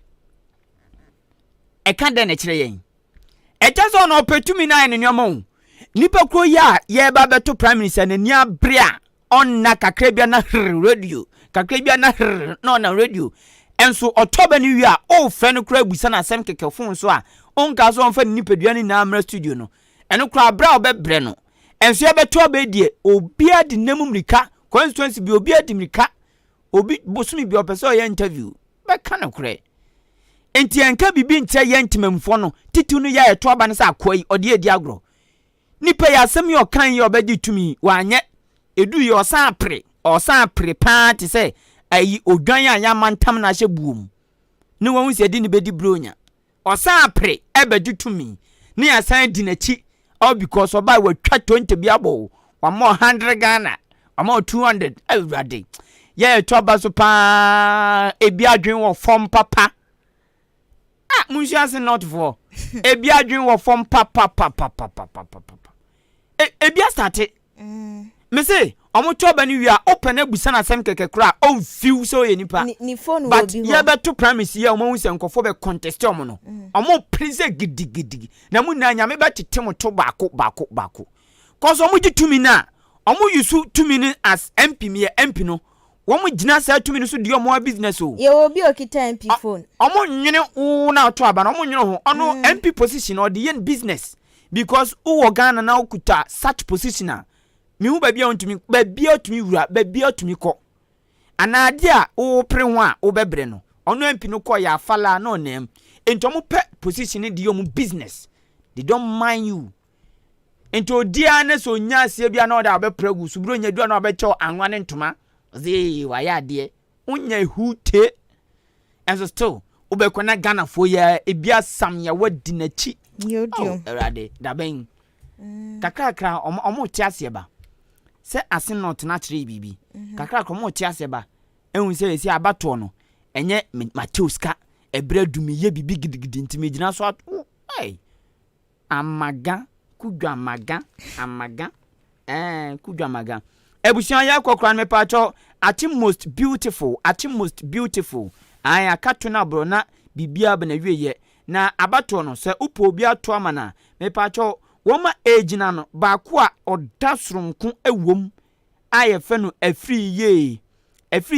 ɛka dɛn na ɛkyerɛ yɛn ɛkyɛ sɛ ɔno ɔpɛ tumi no ayɛ ne nneɛma o nipa koro yi a yɛreba bɛto prime minister n'ani abere a Ɔnna kakra bi a na hre radio, kakra bi a na hre na ɔnna radio. Nso ɔtɔ bɛ no wie a, wofrɛ no koraa bisa no asɛm kɛkɛ fon so a, onkaa sɛ ɔmfa ne nipadua no nyinaa mmra studio no. Ɛno koraa bere a wobɛbrɛ no. Nso yɛbɛto aba yi deɛ, obiara de nna mu mmirika, constituency bi obiara di mmirika, obi bosome bi a ɔpɛ sɛ ɔyɛ interview, bɛka nokorɛ. Nti yɛnka biribi nkyerɛ yɛn Temammufoɔ no, titiriw no yɛ a yɛto aba no sɛ akoa yi, ɔde yɛ redi agorɔ. Nipa yi asɛm yi ɔkae yi a ɔbɛgye tumi yi, wanyɛ. Eduu yi ɔsan pere, ɔsan pere paa te sɛ ayi odwan a y'amantam no ahyɛ buo mu ne wahu sɛ ɛde no bɛdi bronya. Ɔsan pere ɛbɛgye tumi ne y'asan adi n'akyi all because ɔbae watwa tonte bi abɔ wo, wama wo hundred Ghana, wama wo two hundred, Awurade. Yɛɛ ɛto aba so paa, ebi adwene wɔ fam papa. Ah monsua ase north foɔ ebi adwen wɔ fam papapapapapapapa e, ebi asate mm. mese ɔmo tɔ ba no wie a wopɛ no abusa no asɛm kɛkɛ koraa a ɔmfiw sɛ ɔyɛ nipa but yɛbɛto primaries yi a ɔmahu sɛ nkɔfoɔ bɛ contest ɔmo no mm. ɔmo pere sɛ gidigidigidi na mo nyinaa nyame bɛtete mo to baako baako baako kɔsɛ ɔmo gye tumi no a ɔmo yusu tumi no as mp meyɛ mp no Wɔn gyina saa tumi no so di wɔn ara business o. Yɛwɔ obi a okita MP phone. Wɔn nwene wo na ɔtɔ aba no, wɔn nwene ho. Ɔno MP position no ɔde yɛ ne business because wo wɔ Ghana na wo kuta such position a, me hu baabi a ɔntumi, baabi a ɔtumi wura, baabi a ɔtumi kɔ. Anaa adeɛ a wo pere ho a wo bɛ brɛ no. Ɔno MP no kɔɔ yɛ afalaa na ɔnam. Nti wɔn pɛ position no de yɛ wɔn business. They don't mind you. Nti odi ara na sɛ onya aseɛ bi a na ɔde abɛpra agu so, berɛ onya du a na wabɛkyɛw anwa ne ntoma, ɔsɛ ee wayɛ adeɛ, wonya ehu te, ɛnso still wobɛkɔ na Ghanafoɔ yi ara ebi asam yɛ wadi n'akyi, oh Awurade dabɛn mm. kakrakra ɔmo ɔmo te aseɛ ba sɛ ase na ɔtena akyerɛ yi biribi mhm. kakrakra ɔmo te aseɛ ba ehu sɛ esi abatoɔ no ɛnyɛ matew sika ɛbrɛ dumi yɛ biribi gidigidi ntumi gyina so ato ɛɛ. Amaga kudwa maga amaga eh kudwa maga Abusua yɛkɔ kora no mepatɔ ate most beautiful ate most beautiful ae aka to no aborɔ na bibia bɛ na wie yɛ na abatoɔ no sɛ wopɛ obi ato ama no a mepatɔ wɔma ɛgyina no baako a ɔda soronko ɛwom a yɛfɛ no afiri yie afiri